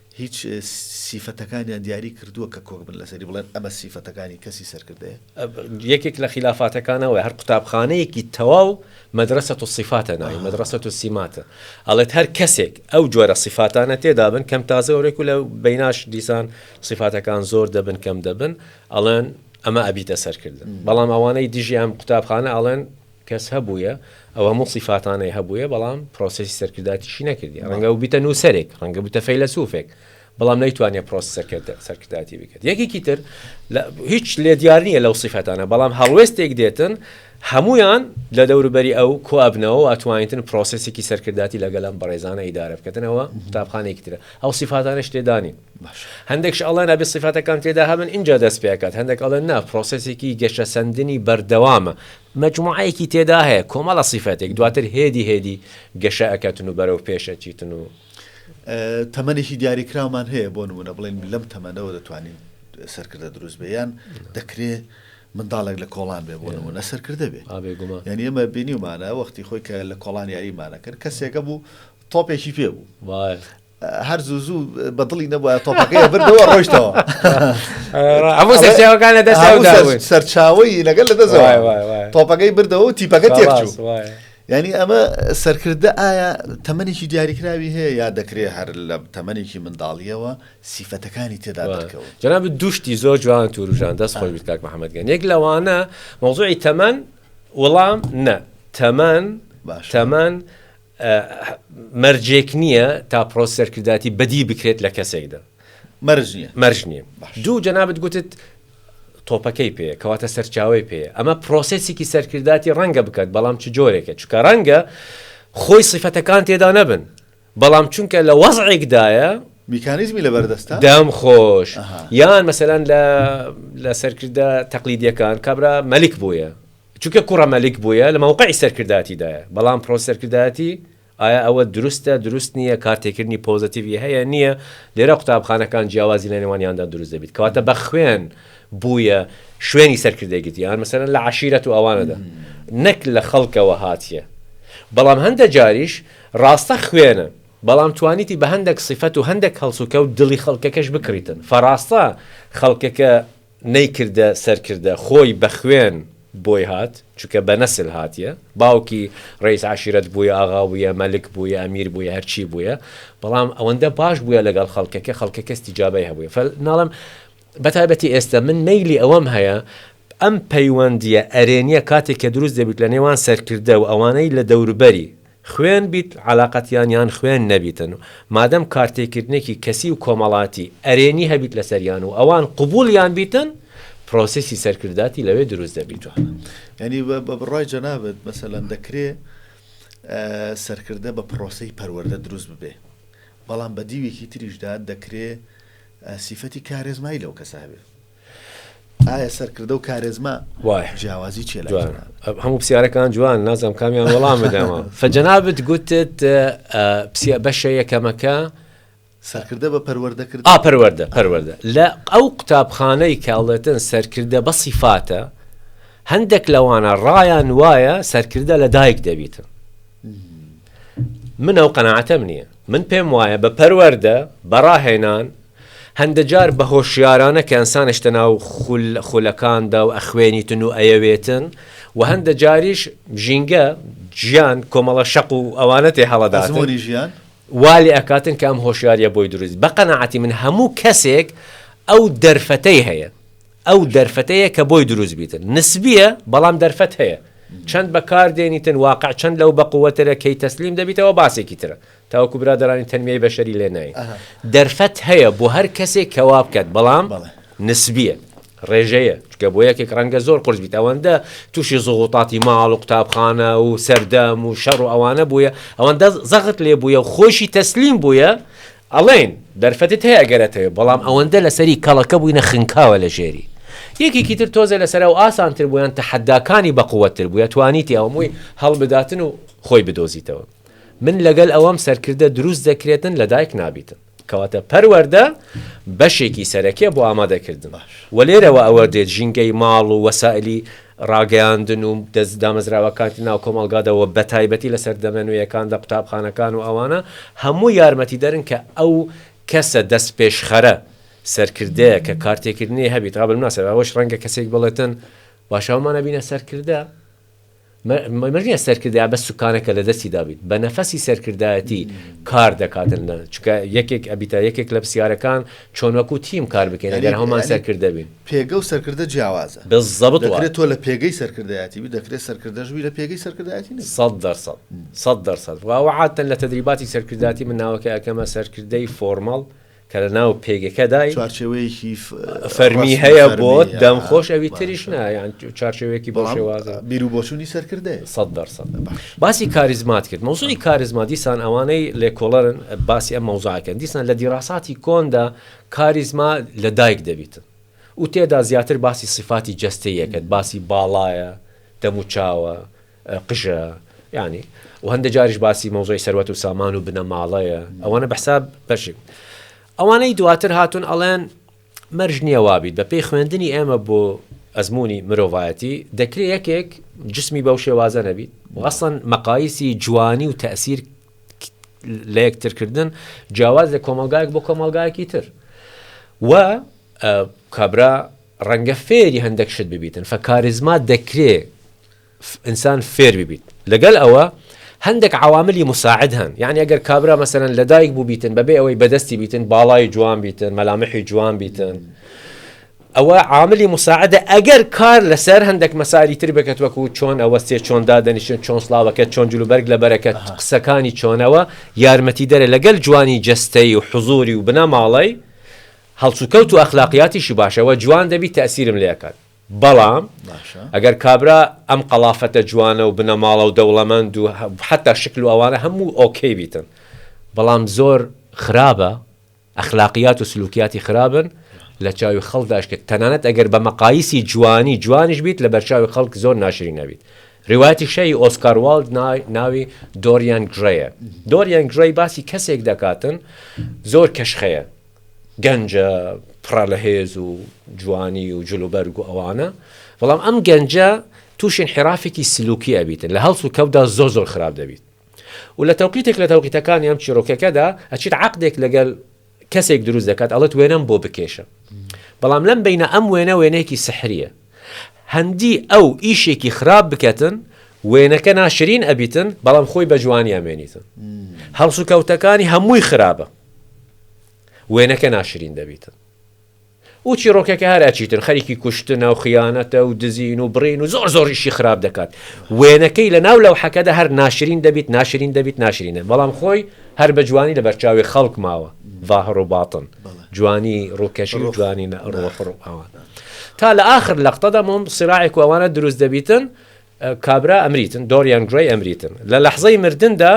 هیچ سیفەتەکانیان دیاری کردووە کە کۆک بن لەسەری بڵێن ئەمە سیفەتەکانی کەسی سەرکردەیە؟ یەکێک لە خیلافاتەکان ئەوەیە هەر قوتابخانەیەکی تەواو مەدرەسە الصفاتە ناوی مەدرەسە السماتە ئەڵێت هەر کەسێک ئەو جۆرە سیفاتانە تێدا بن کەم تازە ئەورێک و لە بیناش دیسان سیفاتەکان زۆر دەبن کەم دەبن ئەڵێن ئەمە ئەبیتە سەرکردن بەڵام ئەوانەی دژی ئەم قوتابخانە ئەڵێن کەس هەبوویە ئەو هەموو سیفاتانەی هەبوویە بەڵام پرۆسێسی سەرکرداتیشی نەکردیە ڕەنگە ببیتە نووسەرێک ڕەنگە ببیتە فەیلەسوفێک بەڵام نەیتوانیە پرۆسی سەرکردە سەرکرداتی بکرد یەکێکی تر هیچ لێ دیار نییە لەو سیفاتانە بەڵام هەڵوێستێک دێتن هەمویان لە دەوروبەری ئەو کۆ ئەبنەوە و ئەتوانیتن پرۆسێسێکی سەرکرداتی لەگەلم بەڕێزانە ئیدارە بکەنەوە قوتابخانێکی ترە ئەو سیفاتانش تێدانی هەندێکش ئەڵێن ئەبێ سیفاتەکان تێدا هەبن اینجا دەست پێکات هەندێک ئەڵێن نا پرۆسێسێکی گەشەسەندنی بەردەوامە مەجموعەیەکی تێدا هەیە کۆمەڵە سیفەتێک دواتر هێدی هێدی گەشە ئەکەتن و بەرەو پێش ئەچیتن و. تەمەنێکی دیاریکراومان هەیە بۆ نموونە بڵێین لەم تەمەنەوە دەتوانین سەرکردە دروست بێ یان دەکرێ منداڵێک لە کۆڵان بێ بۆ نمونە سەرکردە بێ یعنی ئێمە بینیمانە وەختی خۆی کە لە کۆڵان یاریمانەکرد کەسێکە بوو تۆپێکی پێ بوو هەر زوو زوو بە دڵی نەبووە تۆپەکەی بردەوە ڕۆشتەوە هەموو سەرچاوەکان لە دەست سەرچاوی لەگەل لە دەست تۆپەکەی بردەوە و تیپەکە تێکچوو ینی ئەمە سەرکردە ئایا تەمەێکی دیاریکراوی هەیە یا دەکرێ هەر لە تەمەێکی منداڵیەوە سیفەتەکانی تێدا دەکەوە جناب دوشتی زۆر جوان توروژان دەست خۆی بکات محەممەدگەن یەک لەوانە مەوزوعی تەمەەن وەڵام نە تەمەەن تەمەەن مەرجێک نییە تا پرۆس سەرکردایەتی بەدی بکرێت لە کەسێکدا. مەرج نییە. مەرج نییە. باشە. دوو، جەنابت گوتت تۆپەکەی پێیە، کەواتە سەرچاوەی پێیە. ئەمە پرۆسێسێکی سەرکردایەتی ڕەنگە بکات، بەڵام چ جۆرێکە؟ چونکە ڕەنگە خۆی سیفەتەکان تێدا نەبن، بەڵام چونکە لە وەزعێکدایە، میکانیزمی لەبەردەستە؟ دەم خۆش. ئەها. یان مەسەلەن لە لە سەرکردە تەقلیدییەکان کابرا مەلیک بوویە، چونکە کوڕە مەلیک بویە لە مەوقعی سەرکردایەتی دایە بەڵام پرۆ سەرکردایەتی ئایا ئەوە دروستە دروست نییە کار تێکردنی پۆزەتیڤی هەیە نییە لێرە قوتابخانەکان جیاوازی لە نێوانیاندا دروست دەبیت کەواتە بە خوێن بویە شوێنی سەرکردەی گرتی یان مەسەرەن لە عشیرەت و ئەوانەدا نەک لە خەڵکەوە هاتیە بەڵام هەندە جاریش ڕاستە خوێنە بەڵام توانیتی بە هەندێک سیفەت و هەندێک هەڵسوکەوت دڵی خەڵکەکەش بکڕیتن فەڕاستە خەڵکەکە نەیکردە سەرکردە خۆی بەخوێن بۆی هات چونکە بەنەسل هاتیە باوکی ڕەیس عەشیرەت بویە ئاغا بویە مەلک بویە ئەمیر بویە هەرچی بویە بەڵام ئەوەندە باش بویە لەگەڵ خەڵکەکە خەڵکەکە استیجابەی هەبویە فە ناڵم بەتایبەتی ئێستە من مەیلی ئەوەم هەیە ئەم پەیوەندیە ئەرێنیە کاتێک کە دروست دەبیت لە نێوان سەرکردە و ئەوانەی لە دەوربەری خوێن بیت عەلاقەتیان یان خوێن نەبیتن مادەم کارتێکردنێکی کەسی و کۆمەڵاتی ئەرێنی هەبیت لەسەریان و ئەوان قبوڵیان بیتن پرۆسیسی سەرکرداتی لەوێ دروست دەبیتوە. یانی بە بڕای جەنابت مەسەلەن دەکرێ سەرکردە بە پرۆسەی پەروەردە دروست ببێ بەڵام بە دیوێکی تریشدا دەکرێ سیفەتی کارێزمایی لەو کەسە هەبێ. ئایا سەرکردە و کارێزما جیاوازی چێ لە هەموو پرسیارەکان جوان نازم کامیان وەڵام بدەمە فەجەنابت گوتت پسیە بەشە یەکەمەکە سەرکردە بە پەروەردەکرد ئا پەروەەردە پەروەەردە لە ئەو قوتابخانەی کاڵێتن سەرکردە بە سیفاتە هەندێک لەوانە ڕایان وایە سەرکردە لە دایک دەبیتن من ئەو قەنەعاتەم نییە من پێم وایە بە پەروەەردە بەڕاهێنان هەندەجار بە هۆشیارانە کەنسان شتە ناو خول خولەکاندا و ئەخوێنیتن و ئەیەوێتن و هەندە جاریش ژینگە، جیان، کۆمەڵە شەق و ئەوانە تێ هەڵەداتن. ئەزموونی ژیان. وا لێ ئەکاتن کە ئەم هۆشیاریە بۆی دروست بێت. بە قەناعەتی من هەموو کەسێک ئەو دەرفەتەی هەیە. ئەو دەرفەتەیە کە بۆی دروست بیتن. نسبیە بەڵام دەرفەت هەیە. چەند بە کار دێنیتن واقع چەند لەو بە قوەترە کەی تەسلیم دەبیتەوە باسێکی ترە. تاوەکو برادەرانی تەنمیای بەشەری لێ ناین دەرفەت هەیە بۆ هەر کەسێک کە وا بکات بەڵام نسبیە ڕێژەیە چکە بۆ یەکێک ڕەنگە زۆر قرس بیت ئەوەندە تووشی زغوتاتی ماڵ و قوتابخانە و سەردەم و شەڕ و ئەوانە بووە ئەوەندە زەغت لێ بووە و خۆشی تەسلیم بووە ئەڵێن دەرفەتت هەیە گەرەتەوێ بەڵام ئەوەندە لەسەری کەڵەکە بووینە خنکاوە لە ژێری یەکێکی تر تۆزە لەسەر و ئاسانتر بوویان تەحەداکانی بەقوەتر بووە توانیتی ئەومووی هەڵبداتن و خۆی بدۆزیتەوە من لەگەل ئەوەم سەرکردە دروست دەکرێتن لە دایک نابیتن کەواتە پەروەردە بەشێکی سەرەکیە بۆ ئامادە کردن وە لێرەوە ئەوە دێت ژینگەی ماڵ و وەسائلی ڕاگەیاندن و دەست دامەزراوەکانی ناو کۆمەڵگادا وە بەتایبەتی لە سەردەمە نوێیەکاندا قوتابخانەکان و ئەوانە هەموو یارمەتی دەرن کە ئەو کەسە دەست پێشخەرە سەرکردەیە کە کارتێکردنی هەبیت قابل مناسبە ئەوەش ڕەنگە کەسێک بڵێتن باشە هەموومان ئەبینە سەرکردە مە نیە سەرکردایە بەس سوکانە کە لەدەستی دابیت بە نەفەسی سەرکردایەتی کار دەکاتن لە چکە یەکێک ئەبیتە یەکێک لە پسیارەکان چۆن وەکو تیم کار بکەین ئەگەر هەمان سەرکردە بین پێگە و سەرکردە جیاوازە بزەبت دەکرێت تۆ لە پێگەی سەرکردایەتی بی دەکرێت سەرکردەش بی لە پێگەی سەرکردایەتی نەبی سەد دەر سەد سەد دەر سەد واوە عادتەن لە تەدریباتی سەرکردایەتی من ناوەکە ئەکەمە سەرکردەی فۆرمەڵ کە لە ناو پێگەکەدای چوارچێوەیەکی فەرمی هەیە بۆ دەم خۆش ئەوی تریش نایان چارچێوەیەکی بۆ شێوازە بیر و بۆچوونی سەرکردە سە دەرسە باسی کاریزمات کرد مەوزوی کاریزما دیسان ئەوانەی لێکۆڵەرن باسی ئە مەوزاکەن دیسان لە دیراساتی کۆندا کاریزما لە دایک دەبیتن و تێدا زیاتر باسی سفاتی جەستەیەکەت باسی باڵایە دەموچاوە قژە یانی و هەندە جاریش باسی مەوزۆی سەروەت و سامان و بنەماڵەیە ئەوانە بەحساب بەشی ئەوانەی دواتر هاتون ئەڵێن مەرج نییە وابیت بە پێی خوێندنی ئێمە بۆ ئەزمموی مرۆڤایەتی دەکرێت یەکێک جسمی بەو شێوازە نەبیت وەسەن مەقایسی جوانی و تەسیر لە یەکترکردن جیاواز لە کۆمەلگایك بۆ کۆمەلگایەکی تر و کابرا ڕەنگە فێری هەندێک شت ببیتن فەکارزما دەکرێت ئینسان فێر ببیت لەگەل ئەوە هەندەک عەواملی مساعد هەن یانی ئەگەر کابرا مەسەلەن لەدایک بوو بیتن بەبێ ئەوەی بەدەستی بیتن باڵای جوان بیتن مەلامحی جوان بیتن ئەوە عاملی مساعدە ئەگەر کار لەسەر هەندێک مەساری تر بکەت وەکو چۆن ئەوە سێ چۆن دادەنیشن چۆن سلااوەکە چۆن جلوبەرگ لە بەرەکەت قسەکانی چۆنەوە یارمەتی دەرە لەگەل جوانی جستەی و حزوری و بنەماڵی هەڵسوکەوت و ئەخلاقیاتیشی باشەوە جوان دەبی تاسیرم لەکات بەڵام ئەگەر کابرا ئەم قەڵافەتە جوانە و بنەماڵە و دەوڵەمەند و حەتا شکل و ئەوانە هەموو ئۆکەی بیتن بەڵام زۆر خراپە ئەخلاقیات و سلوکیاتی خراپن لە چاوی خەڵکداش کە تەنانەت ئەگەر بە مەقایسی جوانی جوانیش بیت لە بەرچاوی خەڵک زۆر ناشرین ئەبیت ڕوایەتی شەهی ئۆسکار والد ناوی دۆریان گرەیە دۆریان گرەی باسی کەسێک دەکاتن زۆر کەشخەیە گەنجە پڕە لە هێز و جوانی و جل و بەرگ و ئەوانە بەڵام ئەم گەنجە تووشی انحرافێکی سلوکی ئەبیتن لە هەڵس و کەوتدا زۆر زۆر خراپ دەبیت و لە تەوقیتێک لە تەوقیتەکانی ئەم چیرۆکەکەدا ئەچیت عەقدێک لەگەل کەسێک دروست دەکات ئەڵێت وێنەم بۆ بکێشە بەڵام لەم بینە ئەم وێنە وێنەیەکی سحریە هەندی ئەو ئیشێکی خراپ بکەتن وێنەکە ناشرین ئەبیتن بەڵام خۆی بە جوانی ئەمێنیتن هەڵس و کەوتەکانی هەمووی خراپە وێنەکە ناشرین دەبیتن و چیڕۆکەکە هەر ئەچیتن خەریکی کوشتنە و خیانەتە و دزین و بڕین و زۆر زۆر ئیشی خراپ دەکات وێنەکەی لە ناو لەو حەکەدا هەر ناشرین دەبیت ناشرین دەبیت ناشرینە بەڵام خۆی هەر بە جوانی لە بەرچاوی خەڵک ماوە ڤاهڕ و باتن جوانی ڕووکەشی و جوانی ئەوان تا لە ئاخر لەقتەدا مۆم سراعێک و ئەوانە دروست دەبیتن کابرا ئەمریتن، دۆریان گرەی ئەمریتن، لە لەحزەی مردندا،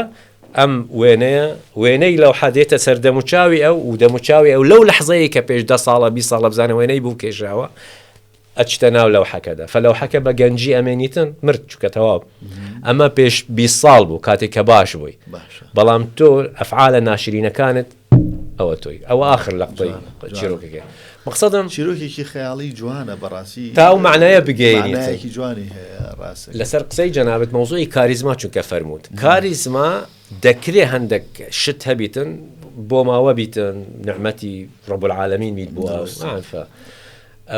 ئەم وێنەیە، وێنەی لەوحە دێتە سەر دەموچاوی ئەو و دەموچاوی ئەو لەو لەحزەیەی کە پێش دە ساڵە، بیست ساڵە بزانە وێنەی بوو کێشاوە، ئەچتە ناو لەوحەکەدا. فەلەوحەکە بە گەنجی ئەمێنیتن، مرد، چونکە تەواو. ئەمە پێش بیست ساڵ بوو، کاتێک کە باش بووی. باشە. بەڵام تۆ ئەفعالە ناشرینەکانت ئەوە تۆی ئەوە ئاخر لەقتەی چیرۆکەکەی مەقسەدم چیرۆکێکی خەیاڵی جوانە بەڕاستی تا ئەو معنایە بگەیەنێتێکی جوانی هەیە ڕاست لەسەر قسەی جەنابەت مەوزوعی کاریزما چونکە فەرمووت کاریزما دەکرێ هەندێک شت هەبیتن بۆ ماوە بیتن نعمەتی ڕبول عاالەمین بیت بووە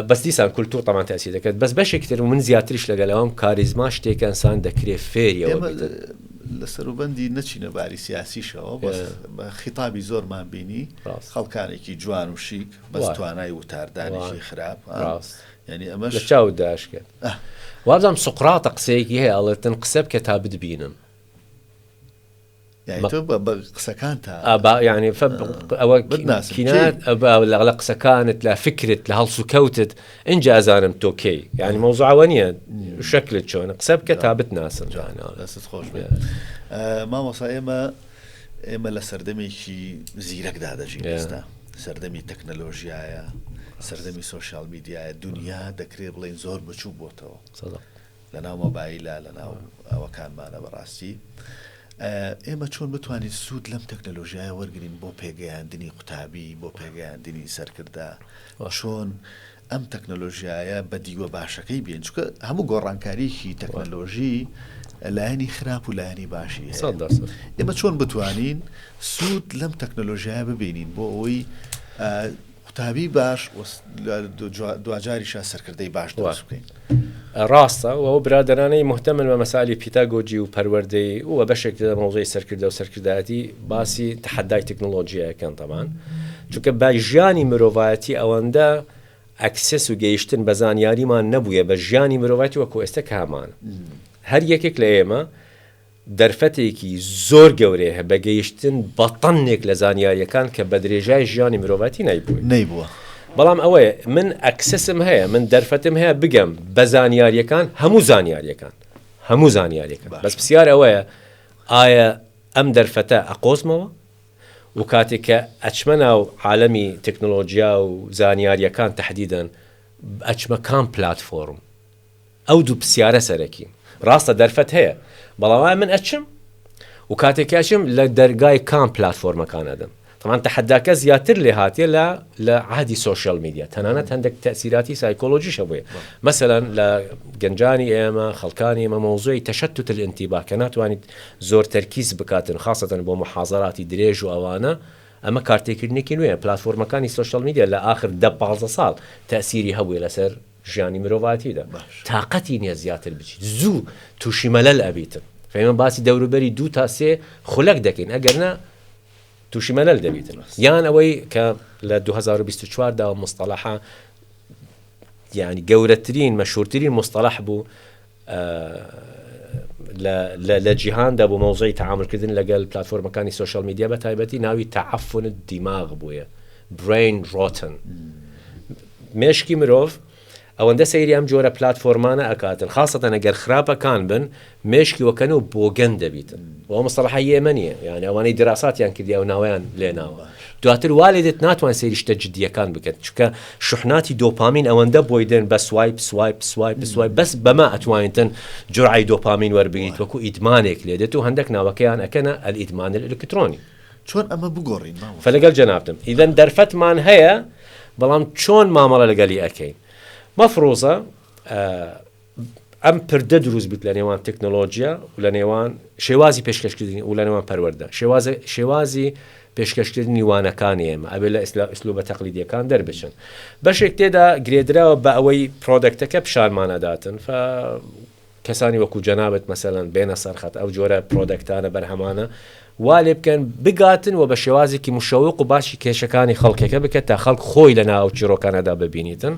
بەس دیسان کولتور تەمان تاسیر دەکرد بەس بەشێک تر من زیاتریش لەگەلەوەم کاریزما شتێکە انسان دەکرێت فێریەوە لە سەروبەندی نەچینە باری سیاسیشەوە بە خیتابی زۆرمان بینی خەڵکانێکی جوان و شیک بەس توانای وتاردانیشی خراپ ینی ئەمە لە چاو داش کرد وابزانم سقراتە قسەیەکی هەیە ئەڵێتن قسە بکە تا بدبینن لە قسەکانت لە فکرت لە هەڵسو کەوتت ئەجا زانم تۆ کەی یعنی مەوزعوە نیە شکلت چۆن قسە بکە تا بتناسم جانست خۆش مامۆسا ئێمە ئێمە لە سەردەمێکی زیرەکدا دەژین ئێستا سەردەمی تەکنەلۆژیایە سەردەمی سوۆسیال میدیایە دنیا دەکرێت بڵین زۆر بچوو بۆتەوە لەناو مۆبایلە لەناو ئەوەکانمانە بەڕاستی ئێمە چۆن بتوانین سوود لەم تەکنەلۆژیایە وەرگین بۆ پێگەیاندنی قوتابی بۆ پێگەیاندنی سەرکردە چۆن ئەم تەکنەلۆژیایە بە دیوە باشەکەی بێن چکە هەموو گۆڕانکاریی تەکنەلۆژی لایەنی خراپ و لایەنی باشی ئێمە چۆن بتوانین سوود لەم تەکنەلۆژیایە ببینین بۆ ئەوەی قوتابی باش و دواجاریشە سەرکردەی باش دروست بکەین. ڕاستە و ئەو برادەرانەی مهتەمن بە مەسالی پیتاگۆجی و پەروەردەی و بەشێک لە مەوزەی سەرکردە و سەرکردایەتی باسی تەحەدای تەکنۆلۆژیاکەن تەبان چونکە بە ژیانی مرۆڤایەتی ئەوەندە ئەکسس و گەیشتن بە زانیاریمان نەبووە بە ژیانی مرۆڤایەتی وەکو ئێستا کامانە هەر یەکێک لە ئێمە دەرفەتێکی زۆر گەورەیه بە گەیشتن بە تەنێک لە زانیاریەکان کە بە درێژای ژیانی مرۆڤایتی نایبوین. نەیبووە. بەڵام ئەوەیە من ئەکسسم هەیە، من دەرفەتم هەیە بگەم بە زانیاریەکان، هەموو زانیاریەکان، هەموو زانیاریەکان، بەس پرسیار ئەوەیە ئایا ئەم دەرفەتە ئەقۆزمەوە و کاتێک کە ئەچمە ناو عالەمی تەکنۆلۆجیا و زانیاریەکان تەحدیدەن ئەچمە کام پلاتفۆرم ئەو دوو پسیارە سەرەکین. ڕاستە دەرفەت هەیە، بەڵام ئایا من ئەچم؟ و کاتێک کە ئەچم لە دەرگای کام پلاتفۆرمەکان ئەدەم؟ تەبعەن تەحەداکە زیاتر لێ هاتیە لە لە عەهدی سۆشیال میدیا، تەنانەت هەندێک تەئسیراتی سایکۆلۆژیش هەبوویە. مەسەلەن لە گەنجانی ئێمە، خەڵکانی ئێمە مەوزوعی تەشەتوت الانتباه کە ناتوانیت زۆر تەرکیز بکاتن خاسەتەن بۆ موحازەراتی درێژ و ئەوانە، ئەمە کارتێکردنێکی نوێیە. پلاتفۆرمەکانی سۆشیال میدیا لە ئاخر دە پازدە ساڵ تەئسیری هەبوویە لەسەر ژیانی مرۆڤاتیدا تاقەتی نیە زیاتر بچیت زوو توشی مەلەل ئەبیتن فەیمە باسی دەوروبەری دوو تا سێ خولەک دەکەین ئەگەر نا توشی مەلەل دەبیتن یان ئەوەی کە لە 2024 دا مستەلەحە یعنی گەورەترین مەشهورترین مستەلەح بوو لە جیهاندا بۆ مەوزەعی تەعامول کردن لەگەل پلاتفۆرمەکانی سۆشیال میدیا بە تایبەتی ناوی تەعەفن دیماغ بوویە Brain Rotten مێشکی مرۆڤ ئەوەندە سەیری ئەم جۆرە پلاتفۆرمانە ئەکاتن خاستەن ئەگەر خراپەکان بن مێشکی وەکەن و بۆگەن دەبیتن بۆ مستەڵەحە یێمەنیە یانە ئەوانەی دراساتیان کردیا و ناویان لێناوە دواتر وا لێدێت ناتوان سەیری شتە جدییەکان بکەن چونکە شوحناتی دۆپامین ئەوەندە بۆی دێن بە سوایپ سوایپ سوایپ سوایپ بەس بەمە ئەتوانیتن جورعی دۆپامین وەربگیت وەکو ئیدمانێک لێ دێت و هەندێک ناوەکەیان ئەکەنە ئەلئیدمان الکترۆنی چۆن ئەمە بگۆڕین مامۆستا؟ فلەگەل جەنابتم ئیدەن دەرفەتمان هەیە بەڵام چۆن مامەڵە لەگەلی ئەکەین مەفروزە ئەم پردە دروست بوویت لە نێوان تەکنەلۆجیا و لە نێوان شێوازی پێشکەشکردنی و لە نێوان پەروەردە شێوازە شێوازی پێشکەشکردنی وانەکانی ئێمە ئەبێ لە ئیسلا ئیسلوبە تەقلیدیەکان دەربچن بەشێک تێدا گرێدراوە بە ئەوەی پرۆدەکتەکە پیشانمانەداتن فە کەسانی وەکو جەنابەت مەسەەن بێنە سەرخەت ئەو جۆرە پرۆدەکتانە بەرهەمانە وا لێ بکەن بگاتن و بە شێوازێکی مشەوق و باسی کێشەکانی خەڵکێکە بکە تا خەڵک خۆی لە نا ئەو چیڕۆکانەدا ببینیتن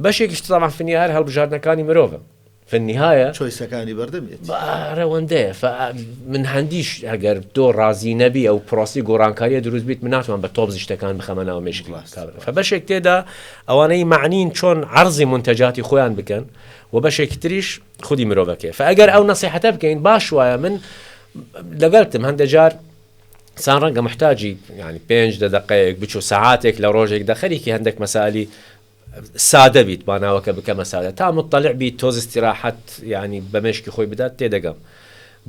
بەشێکیش تەبعەن فی النیهایە هەر هەڵبژاردنەکانی مرۆڤە فی النیهایە چۆیسەکانی بەردەمیت با رەوەندەیە فا من هەندیش ئەگەر تۆ ڕازی نەبی ئەو پرۆسی گۆڕانکاریە دروست بیت من ناتوان بە تۆپ زیشتەکان بخەمە ناو مێشکی ڕاست، کابرا ڕاست. فە بەشێک تێدا ئەوانەی مەعنین چۆن عەرزی مونتەجاتی خۆیان بکەن و بەشێکی تریش خودی مرۆڤەکەی فگەر ئەو نسیحەتە بکەین باش وایە من لەگەلتم هەندە جار سان ڕەنگە محتاجی ینی پێنج دە دقەیەک بچوو سعاتێک لە ڕۆژێک دەخەرێکی هەندێک مەسالی سادە بیت باناوەکە بکەمە سادە تا مطلع بیت تۆزستی راحەت ینی بەمشکی خۆی بدات تێدەگەم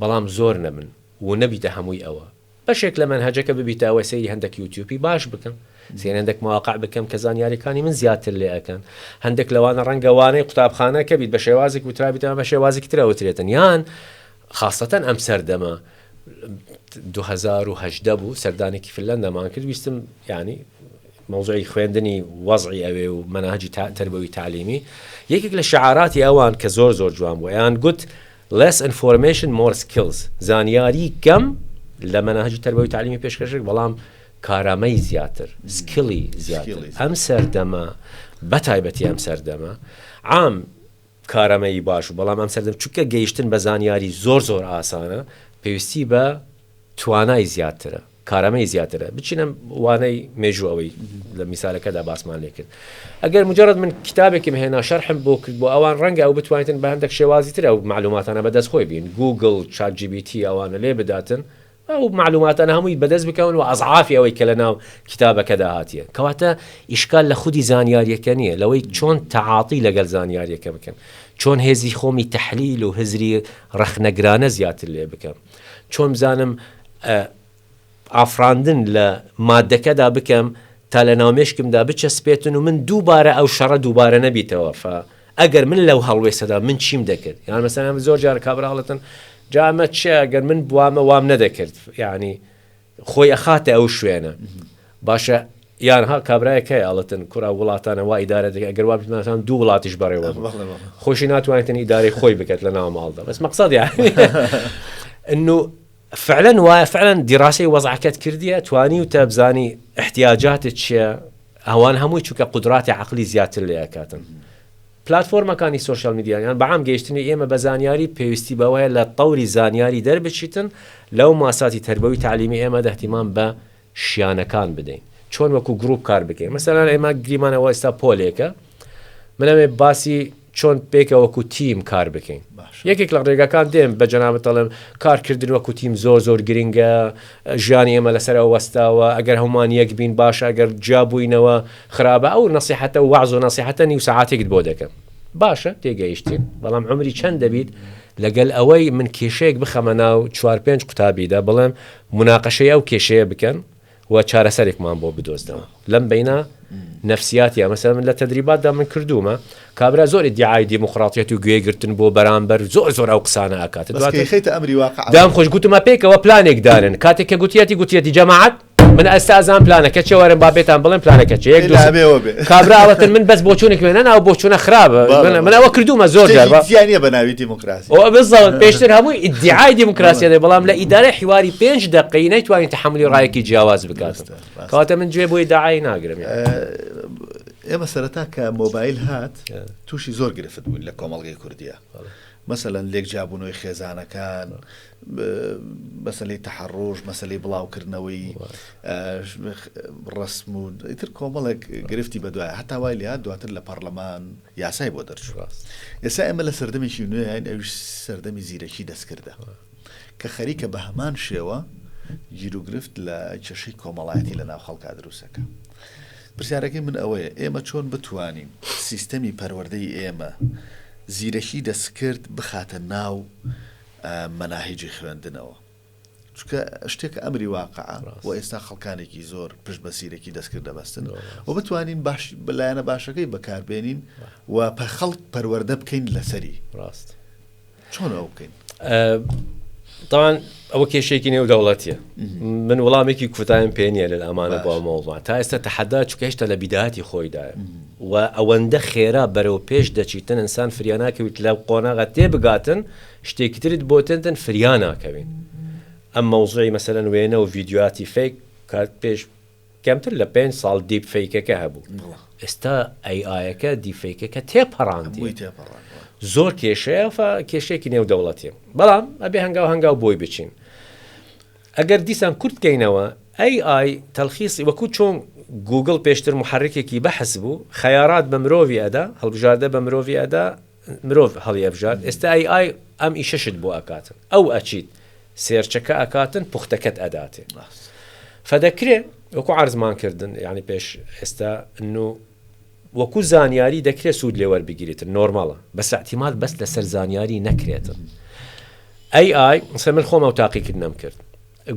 بەڵام زۆر نەبن و نەبیتە هەمووی ئەوە بەشێک لە مەنهەجەکە ببیتە ئەوەی سەیری هەندەک یوتیوپی باش بکەم سەیری هەندەک مواقع بکەم کە زانیاریەکانی من زیاتر لێ ئەکەن هەندەک لەوانە ڕەنگە وانەی قوتابخانە کە بیت بە شێوازێک وترابیتەوە بە شێوازێکی تر ئەوترێتن یان خاستەتەن ئەم سەردەمە دوو هەزار و هەژدە بوو سەردانێکی فنلەندەمان کرد ویستم یانی مەوزوعی خوێندنی وەزعی ئەوێ و مەناهجی تربەوی تعلیمی یەکێک لە شعاراتی ئەوان کە زۆر زۆر جوان بوو یان گوت Less information more skills زانیاری کەم لە مەناهەجی تەربەوی تەعلیمی پێشکەشکرد بەڵام کارامەی زیاتر سکیڵی زیاتر ئەم سەردەمە بەتایبەتی ئەم سەردەمە عام کارامەیی باش و بەڵام ئەم سەردەم چونکە گەیشتن بە زانیاری زۆر زۆر ئاسانە پێویستی بە توانای زیاترە کارامەیی زیاترە. بچینە وانەی مێژوو ئەوەی لە میسالەکەدا باسمان لێ کرد. ئەگەر موجەرەد من کیتابێکم هێنا شەرحم بۆ کرد بۆ ئەوان ڕەنگە ئەو بتوانیتن بە هەندەک شێوازی تر ئەو مەعلوماتانە بە دەست خۆی بین گووگڵ، چات جی بی تی ئەوانە لێ بداتن ئەو مەعلوماتانە هەمووی بە دەست بکەون و ئەزعافی ئەوەی کە لە ناو کیتابەکەدا هاتیە. کەواتە ئیشکال لە خودی زانیاریەکە نیە لەوەی چۆن تەعاتی لەگەل زانیاریەکە بکەم. چۆن هێزی خۆمی تەحلیل و هزری ڕەخنەگرانە زیاتر لێ بکەم. چۆن بزانم ئافڕاندن لە مادەکەدا بکەم تا لە ناو مێشکمدا بچەسپێتن و من دووبارە ئەو شەڕە دووبارە نەبیتەوە فا ئەگەر من لەو هەڵوێسەدا من چیم دەکرد یان مەسەن ئەم زۆر جار کابراڵەتن جامە چێ ئەگەر من بوامە وام نەدەکرد یعنی خۆی ئەخاتە ئەو شوێنە باشە یانها کابراایە کە ئاڵتن کورا وڵاتانە وا ئیدارە دەکە گەر وابناسان دوو وڵاتیش بەڕێوە خۆشی ناتوانێتن ئیدارەی خۆی بکات لە ناو ماڵدا بەس مەقصد ئەنو فعلەن وایە فعلەن دیڕاستی وەزعکەت کردیە توانی و تەبزانی احتیاجاتت چیە ئەوان هەمووی چووکە قدراتی عقلی زیاتر لێکاتن پلاتفۆرمەکانی سۆشیال میدیا یان بەعام گەیشتنی ئێمە بە زانیاری پێویستی بەوەیە لە تەوری زانیاری دەربچیتن لەو ماساتی تەربەوی تەعلیمی ئێمەدا اهتمام بە شیانەکان بدەین چۆن وەکو گروپ کار بکەین مەسەلەن ئێمە گریمانە وە ئێستا پۆلێکە من ئەمێ باسی چۆن پێکە وەکو تیم کار بکەین یەکێک لە ڕێگاکان دێن بە جەنابەت دەڵێم کارکردن وەکو تیم زۆر زۆر گرنگە ژیانی ئێمە لەسەر ئەوە وەستاوە، ئەگەر هەموومان یەک بین باشە، ئەگەر جیا بووینەوە خراپە، ئەو نەسیحەتە و وەعز و نەسیحەتە نیو سەعاتێکت بۆ دەکەم. باشە، تێگەیشتین، بەڵام عومری چەند دەبیت؟ لەگەل ئەوەی من کێشەیەک بخەمە ناو چوار پێنج قوتابیدا، بڵێم موناقەشەی ئەو کێشەیە بکەن و چارەسەرێکمان بۆ بدۆزنەوە. لەم بەینە نەفسیاتیە مەسەلەن من لە تەدریباتدا من کردوومە کابرا زۆر ئیدیعای دیموکراتیەت و گوێگرتن بۆ بەرامبەر زۆر زۆر ئەو قسانە ئەکات بەس دواتر کەیخەیتە ئەمری واقع دام خۆش گوتمە پێکەوە پلانێک دانن کاتێک کە گوتیەتی گوتیەتی جەماعەت من ئەستا ئەزان پلانەکە چێ وەرن با پێتان بڵێم پلانەکە چێ یەک دوو سێ. لابێوە بێ کابراوەتن من بەس بۆچوونێک مێنە ناو بۆچوونە خراپە بەڵێ، من- من بەڵێ. ئەوە کردوومە زۆر جار با- شتێکی زیانە بە ناوی دیموکراسی ئەوە بزەوت پێشتر هەموو ئیدعای دیموکراسی دەێ بەڵام لە ئیدارە حیواری پێنج دقی نەیتوانین تحملی ڕایەکی جیاواز بکات دەستە. کاتە من جێ بۆی داعای ناگرم ئێمە سەرەتا کە مۆبایل هات تووشی زۆر گرفت بوون لە کۆمەڵگەی کوردیە مەسەەن لێک جابوونەوەی خێزانەکان مەسلی تەحڕۆژ مەسلی بڵاوکردنەوەی ڕسم و ئیتر کۆمەڵێک گرفتی بەدوای هەتا وای لە دواتر لە پەرلەمان یاسای بۆ دەرچوە ئێستا ئێمە لە سەردەمێکی نوێیان ئەوش سەردەمی زیرەکی دەستکردە کە خەریکە بە هەمان شێوە گیروگرفت لە کێشەی کۆمەڵایەتی لە ناو خەڵکا دروست دەکا. پرسیارەکەی من ئەوەیە ئێمە چۆن بتوانین سیستەمی پەروەردەی ئێمە زیرەکی دەستکرد بخاتە ناو مەناهیجی خوێندنەوە؟ چونکە شتێکە ئەمری واقعە و ئێستا خەڵکانێکی زۆر پشت بە سیرەکی دەستکرد دەبەستن و بتوانین باش بەلایەنە باشەکەی بەکاربێنین و پە خەڵک پەروەەردە بکەین لەسەری ڕاست. چۆن ئەو بکەین تاوان ئەوە کێشێکی نێو دەوڵەتە من وڵامێکی کوتایم پێ نیە لە ئەمانە بۆ مەوڵمان تا ئێستا تەحەدا چکە هێشتا لە بیداتی خۆیدا و ئەوەندە خێرا بەرەو پێش دەچیتن ئەسان فریانناکەویت لە قۆناغە تێ بگاتن شتێکی ترت بۆتنتن فریانناکەوین ئەم مەوزوعی مەسەرەن وێنە و ڤیددیوهاتی فیک کات پێش کەمتر لە پێنج ساڵ دیپ فەیکەکە هەبوو ئێستا ئەی ئایەکە دیپ فەیکەکە تێپەڕاندی زۆر کێشەیە فە کێشێکی نێو دەوڵەتی بەڵام ئەبێ هەنگاو هەنگاو بۆی بچین ئەگەر دیسان کورت کەینەوە ئەی ئای تەلخیصی وەکو چۆن گوگل پێشتر محرکێکی بەحس بوو خەیارات بە مرۆڤی ئەدا هەڵبژاردە بە مرۆڤی ئەدا مرۆڤ هەڵیەبژارد ئێستا ئەی ئای ئەم ئیشەشت بۆ ئەکاتن ئەو ئەچیت سێرچەکە ئەکاتن پوختەکەت ئەداتێ فەدەکرێ وەکو عەرزمان کردن یانی پێش ئێستا نو وەکو زانیاری دەکرێت سوود لێوەربگیرێتن نۆرماڵە بەس ئەتیماد بەس لەسەر زانیاری نەکرێتن ئەی ئای سە من خۆمە و تاقیکردنەم کرد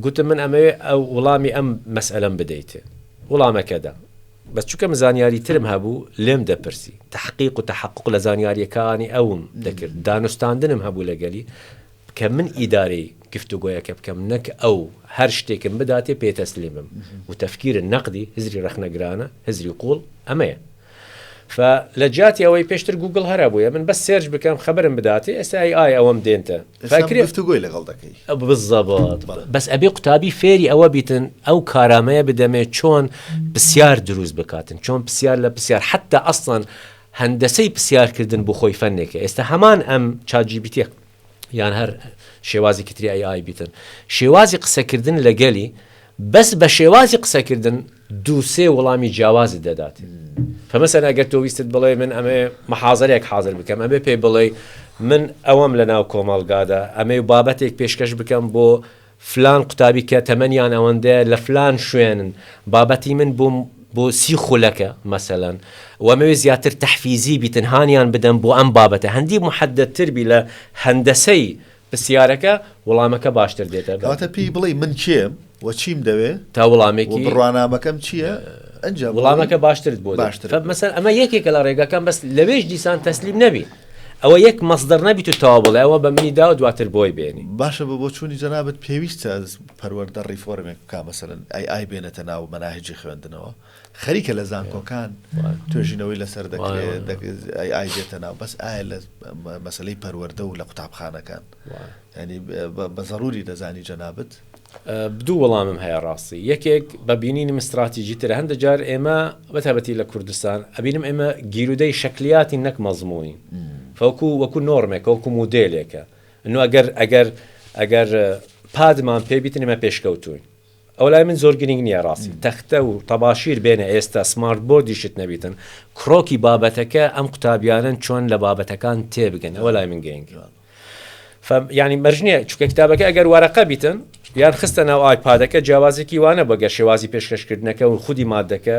گوتم من ئەمەوێ ئەو وڵامی ئەم مەسئەلەم بدەیت وڵامەکە دام بەس چونکە من زانیاری ترم هەبوو لێم دەپرسی تەحقیق و تەحەقوق لە زانیاریەکانی ئەوم دەکرد دانوستاندنم هەبوو لەگەلی کە من ئیدارەی گفتوگۆیەکە بکەم نەک ئەو هەر شتێکم بداتێ پێ تەسلیم بم و تەفکیرە نەقدی هزری ڕەخنەگرانە هزری قوڵ ئەمەیە ف لە جیاتی ئەوەی پێشتر گووگڵ هەر هەبوویە من بەس سێرچ بکەم خەبەرم بداتێ ئێستا ئەی ئای ئەوەم دێنتە گفتوگۆی لەگەڵ دەکەی بزەبات بەس ئەبێ قوتابی فێری ئەوە بیتن ئەو کارامەیە بدەمێ چۆن پرسیار دروست بکاتن چۆن پرسیار لە پرسیار حتا ئەسڵەن هەندەسەی پرسیارکردن بۆ خۆی فەنێکە ئێستا هەمان ئەم چاجیبیتە یان هەر شێوازی کتری ئەی ئای بیتن شێوازی قسەکردن لەگەلی بەس بە شێوازی قسەکردن دوو سێ وڵامی جیاوازت دەدات فمثلا گەر تۆ ویستت بڵێ من ئەمەوێ محازەرەیەک حازر بکەم ئەبێ پێی بڵێی من ئەوەم لە ناو کۆمەڵگادا ئەمەوێ بابەتێک پێشکەش بکەم بۆ فلان قوتابی کە تەمەنیان ئەوەندەیە لە فلان شوێنن بابەتی من بۆ بۆ سی خولەکە مەسەلا وەمەوێ زیاتر تەحفیزی بیتن هانیان بدەم بۆ ئەم بابەتە هەندی محەددتر بی لە هەندەسەی پرسیارەکە وڵامەکە باشتر دێتە بەر. کەواتە پێی بڵێی من کێم و چیم دەوێ تا وڵامێکی و بڕوانامەکەم چییە ئەنجا بڵێی وڵامەکە باشترت بۆ دێ باشتر فە مەسەل ئەمە یەکێکە لە ڕێگاکان بەس لەوێش دیسان تەسلیم نەبی ئەوە یەک مەصدر نەبیت و تەوا بڵێ ئەوە بە منی داوە دواتر بۆی بێنی باشە بە بۆچوونی جەنابت پێویستە پەروەردە ڕیفۆرمێک بکا مەسەلەن ئای ئای بێنێتە ناو مەناهجی خوێندنەوە خەریکە لە زانکۆکان توێژینەوەی لەسەر دەکرێتئایدێتە ناو بەس ئایا لە مەسلەی پەروەەردە و لە قوتابخانەکان ینی بە زەڕوری دەزانی جەنابەت بدوو وەڵامم هەیە ڕاستی یەکێک بە بینینم استراتیژی تر هەندە جار ئێمە بەتابەتی لە کوردستان ئەبینم ئێمە گیرودەی شکلیاتی نەک مەزمونی فەکو وەکو نۆرمێک وەکو مودێلێکە نو ئەگەر ئەگەر ئەگەر پادمان پێبیتن ئمە پێشکەوتوین ئەوە لای من زۆر گرینگ نییە ڕاستی تەختە و تەباشیر بێنە ئێستا سمارت بۆردیشت نەبیتن کڕۆکی بابەتەکە ئەم قوتابیانن چۆن لە بابەتەکان تێبگەن ئەوە لای من گەنگ ینی مەرجنیە چکە کتابەکە ئەگەر وارەقە بیتن یان خستە ناو ئایپادەکە جیاوازێکی وانە بەگەر شێوازی پێشکەشکردنەکە و خودی مادەکە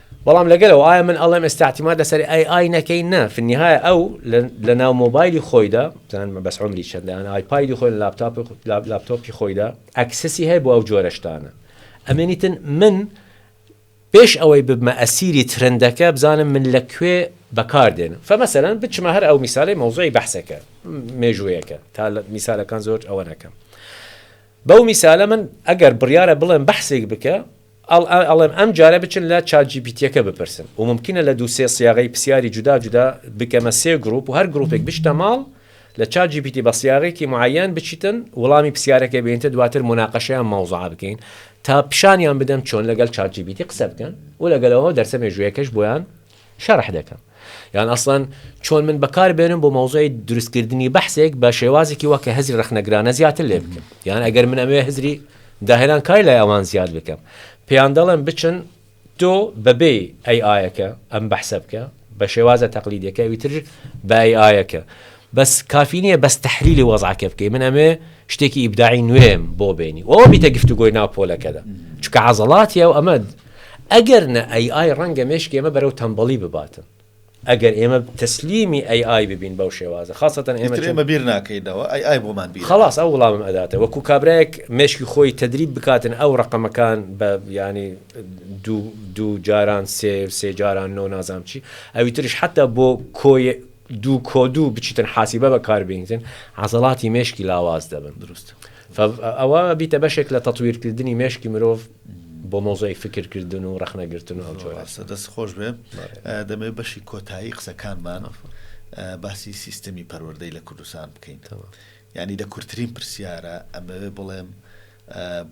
بەڵام لەگەل ئەوە ئایا من ئەڵێم ئێستا اعتماد لەسەر AI نەکەین نا فی النهایە ئەو لەناو مۆبایلی خۆیدا بزانم بەس عمری چەندە یان ئایپایدی خۆی لاپتاپ لاپتۆپی خۆیدا ئەکسسی هەیە بۆ ئەو جۆرە شتانە ئەمێنیتن من پێش ئەوەی ببمە ئەسیری ترندەکە بزانم من لە کوێ بەکاردێن فمەسەرەن بچمە هەر ئەو میسالی مەوزۆی بەحسەکە مێژوویەکە تا میسالەکان زۆر ئەوە نەکەم بەو میسالە من ئەگەر بڕیارە بڵێم بەحسێک بکە ئەڵێم ئەم جارە بچن لە چات جی پی تیەکە بپرسن و مومکینە لە دوو سێ سیاغەی پسیاری جودا جودا بکەمە سێ گروپ و هەر گروپێک بچتە ماڵ لە چات جی پی تی بە سیاغەیەکی معەیەن بچیتن وڵامی پسیارەکە بێنیتە دواتر موناقەشەی ئەم مەوزوعە بکەین تا پیشانیان بدەم چۆن لەگەل چات جی پی تی قسە بکەن و لەگەلەوە دەرسە مێژوویەکەش بۆیان شەرح دەکەم یان ئەسڵەن چۆن من بەکار بێنم بۆ مەوزوعی دروستکردنی بەحسێک بە شێوازێکی وەکە هزری ڕخنەگرانە زیاتر لێ بکەم یان ئەگەر من ئەمێ هزری داهێنان کاری لای ئەوان زیاد بکەم پێیان دەڵێن بچن تۆ بەبێ ئەی ئاەکە ئەم بەحسە بکە بە شێوازە تەقلیدەکە ویتر بە ئەی ئاەکە بەس کافی نییە بەس تحلیلی وەزعکە بکەی من ئەمێ شتێکی ئیبداعی نوێم بۆ بێنی ئەوە بیتە گفتوگۆی ناو پۆلەکەدا چکە عزڵاتی ئەو ئەمە ئەگەر نە ئەی ئای ڕەنگە مێشکی ئێمە بەرەو تەمبەڵی بباتن ئەگەر ئێمە تەسلیمی ئەی ئای ببین بەو شێوازە خاستەن ئێمە چون ئیتر ئێمە بیر ناکەینەوە ئەی ئای بۆمان بیر ئەکات. خەڵاس ئەو وڵامم ئەداتە وەکو کابرایەک مێشکی خۆی تەدریب بکاتن ئەو ڕەقەمەکان بە یانی دوو دوو جاران سێ سێ جاران نۆ نازانم چی ئەوی تریش حەتتا بۆ کۆی دوو کۆ دوو بچیتن حاسیبە بەکار بینیتن عەزەڵاتی مێشکی لاواز دەبن دروست فە ئەوە بیتە بەشێک لە تەتویرکردنی مێشکی مرۆڤ بۆ مەوزوعی فکر کردن و ڕەخنە گرتن و ئەو جۆرە. زۆر ڕاستە دەست خۆش بێ دەمەوێت بەشی کۆتایی قسەکانمان باسی سیستەمی پەروەردەی لە کوردستان بکەین یعنی لە کورتترین پرسیارە ئەمەوێ بڵێم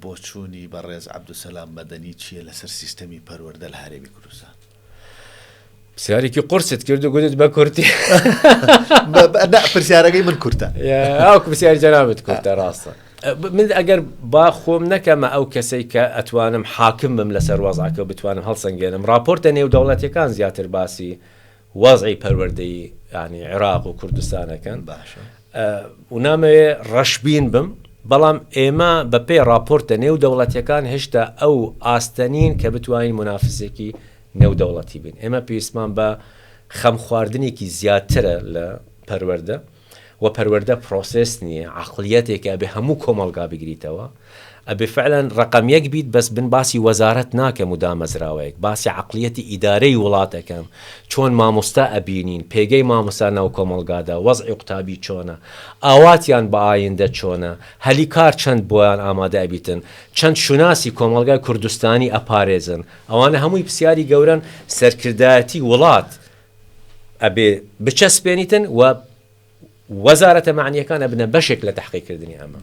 بۆچوونی بەڕێز عەبدولسەلام مەدەنی چییە لەسەر سیستەمی پەروەردە لە هەرێمی کوردستان؟ پرسیارێکی قرست کرد و گوتت بە کورتی پرسیارەکەی من کورتە ئەو پرسیار جەنابەت کورتە ڕاستە من ئەگەر با خۆم نەکەمە ئەو کەسەی کە ئەتوانم حاکم بم لەسەر وەزعکە بتوانم هەڵسەنگێنم راپۆرتە نێودەوڵەتەکان زیاتر باسی وەزعی پەروەردەی ینی عێراق و کوردستانەکەن باشە و نامەوێ ڕەشبین بم، بەڵام ئێمە بە پێی ڕاپۆرتە نێودەوڵەتیەکان هێشتا ئەو ئاستە نین کە بتوانین مونافسێکی نێودەوڵەتی بین. ئێمە پێویستمان بە خەمخواردنێکی زیاترە لە پەروەردە و پەروەردە پرۆسێس نیە، عەقڵیەتێکە ئەبێ هەموو کۆمەڵگا بگریتەوە. ئەبێ فعلا رەقەم یەک بیت بەس من باسی وەزارەت ناکەم و دامەزراوەیەک باسی عەقڵیەتی ئیدارەی وڵات ئەکەم چۆن مامۆستا ئەبینین پێگەی مامۆستا ناو کۆمەڵگادا وەزعی قوتابی چۆنە ئاواتیان بە ئایندە چۆنە هەلی کار چەند بۆیان ئامادە ئەبیتن چەند شوناسی کۆمەڵگای کوردستانی ئەپارێزن ئەوانە هەمووی پسیاری گەورەن سەرکردایەتی وڵات ئەبێ بچەسپێنیتن و وەزارەتە مەعنییەکان ئەبنە بەشێک لە تەحقیق کردنی ئەمە.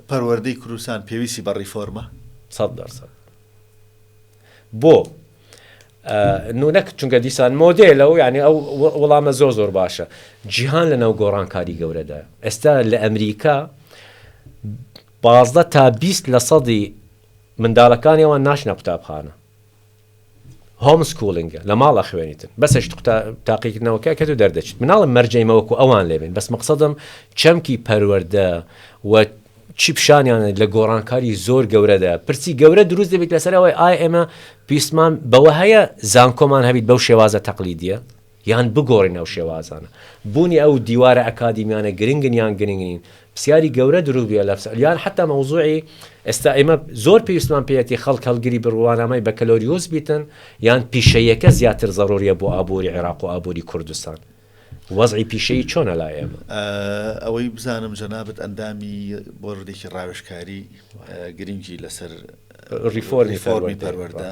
پەروەردەی کوردستان پێویستی بە ڕیفۆرمە؟ سەد دەر سەد. بۆ نونەک چونکە دیسان مۆدێلە و یعنی ئەو وڵامە زۆر زۆر باشە جیهان لە ناو گۆڕانکاری گەورەدا ئێستا لە ئەمریکا بازدە تا بیست لە سەدی منداڵەکانیەوە ناشنە قوتابخانە هۆم سکوڵینگە لە ماڵ ئەخوێنیتن بەسە شت قوتا تاقیکردنەوەکە ئەکەت و دەردەچیت من ناڵێم مەرجەی مەوە کو ئەوان لێ بێن بەس مەقسەدم چەمکی پەروەردە و چی پیشانیان لە گۆڕانکاری زۆر گەورەدا پرسی گەورە دروست دەبیت لەسەر ئەوەی ئایا ئێمە پیستمان بەوە هەیە زانکۆمان هەبیت بەو شێوازە تەقلیدیە یان بگۆڕین ئەو شێوازانە. بوونی ئەو دیوارە ئەکادیمیانە گرنگن یان گرنگ نین، پرسیاری گەورە دروست بووە لە پسر، یان حەتا مەوزوعی ئێستا ئێمە زۆر پێویستمان پێیەتی خەڵک هەڵگری بڕوانامەی بەکەلۆریۆس بیتن یان پیشەییەکە زیاتر زەڕوریە بۆ ئابووری عێراق و ئابووری کوردستان؟ وەزعی پیشەیی چۆنە لای ئێمە؟ ئەوەی بزانم جەنابت ئەندامی بۆردێکی ڕاوێژکاری گرنگی لەسەر ڕیفۆرمی پەروەردە.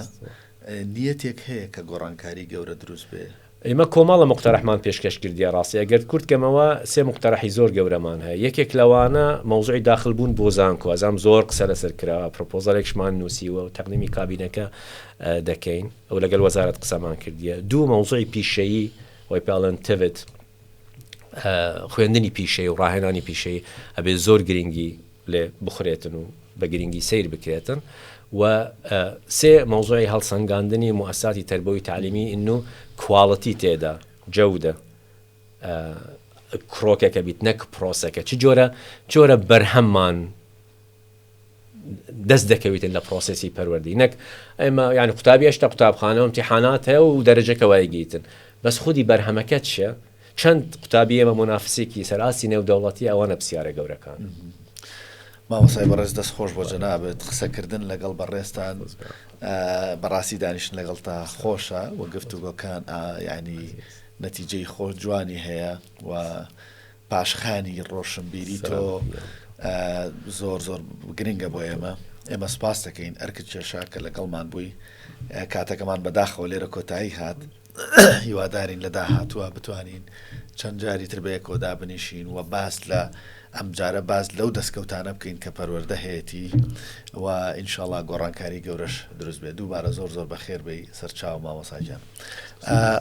نیەتێک هەیە کە گۆڕانکاری گەورە دروست بێ؟ ئیمە کۆمەڵە مقتەرەحمان پێشکەش کردیە ڕاستی ئەگەر کورت کەمەوە سێ مقتەرەحی زۆر گەورەمان هەیە یەکێک لەوانە مەوزوعی داخل بوون بۆ زانکۆ ئەزانم زۆر قسە لەسەر کرا پرۆپۆزەلێکشمان نوسیوە و تەقدیمی کابینەکە دەکەین ئەو لەگەل وەزارەت قسەمان کردیە دوو مەوزوعی پیشەیی وای پێڵێن تڤت خوێندنی پیشەی و ڕاهێنانی پیشەی ئەبێ زۆر گرنگی لێ بخورێتن و بە گرینگی سەیر بکرێتن و سێ مەوزوعی هەڵسەنگاندنی موئەسساتی تەربەوی تەعلیمی ن و کواڵتی تێدا، جودە، کرۆکێکە بیت نەک پرۆسەکە چ جۆرە چ جۆرە بەرهەممان دەست دەکەویتن لە پرۆسێسی پەروەردەی نەک ئێمە یان قوتابی هێشتا قوتابخانە و ئیمتیحانات هەیە و دەرەجەکە وای گیتن بەس خودی بەرهەمەکە چیە؟ چەند قوتابی ئێمە مونافسێکی سەر ئاستی نێودەوڵەتی ئەوانە پسیارە گەورەکان. مامۆستای بەڕێز دەست خۆش بۆ جەنابت قسە کردن لەگەڵ بەڕێزتان بەڕاستی دانیشتن لەگەڵ تا خۆشە و گفتوگۆکان ینی نەتیجەی خۆ جوانی هەیە و پاشخانی ڕۆشنبیری تۆ زۆر زۆر گرنگە بۆ ئێمە ئێمە سپاس دەکەین ئەرکت کێشا کە لەگەڵمان بووی کاتەکەمان بەداخەوە لێرە کۆتایی هات هیوادارین لە داهاتووە بتوانین چەند جاری تر بەیەکەوە دابنیشین و باس لە ئەمجارە باس لەو دەستکەوتانە بکەین کە پەروەەردە هەیەی و ئینشاالله گۆڕانکاری گەورەش دروست بێت دووبارە زۆر زۆر بەخێر بی سەرچاو مامۆساجان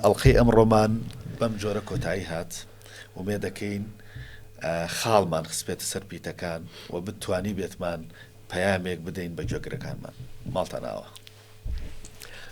ئەڵلقەی ئەم ڕۆمان بەم جۆرە کۆتایی هات ومێ دەکەین خاڵمان خسپێتە سەر پیتەکان و بتانی بێتمان پەیامێک بدەین بە گوێگرەکانمان ماڵتە ناوە.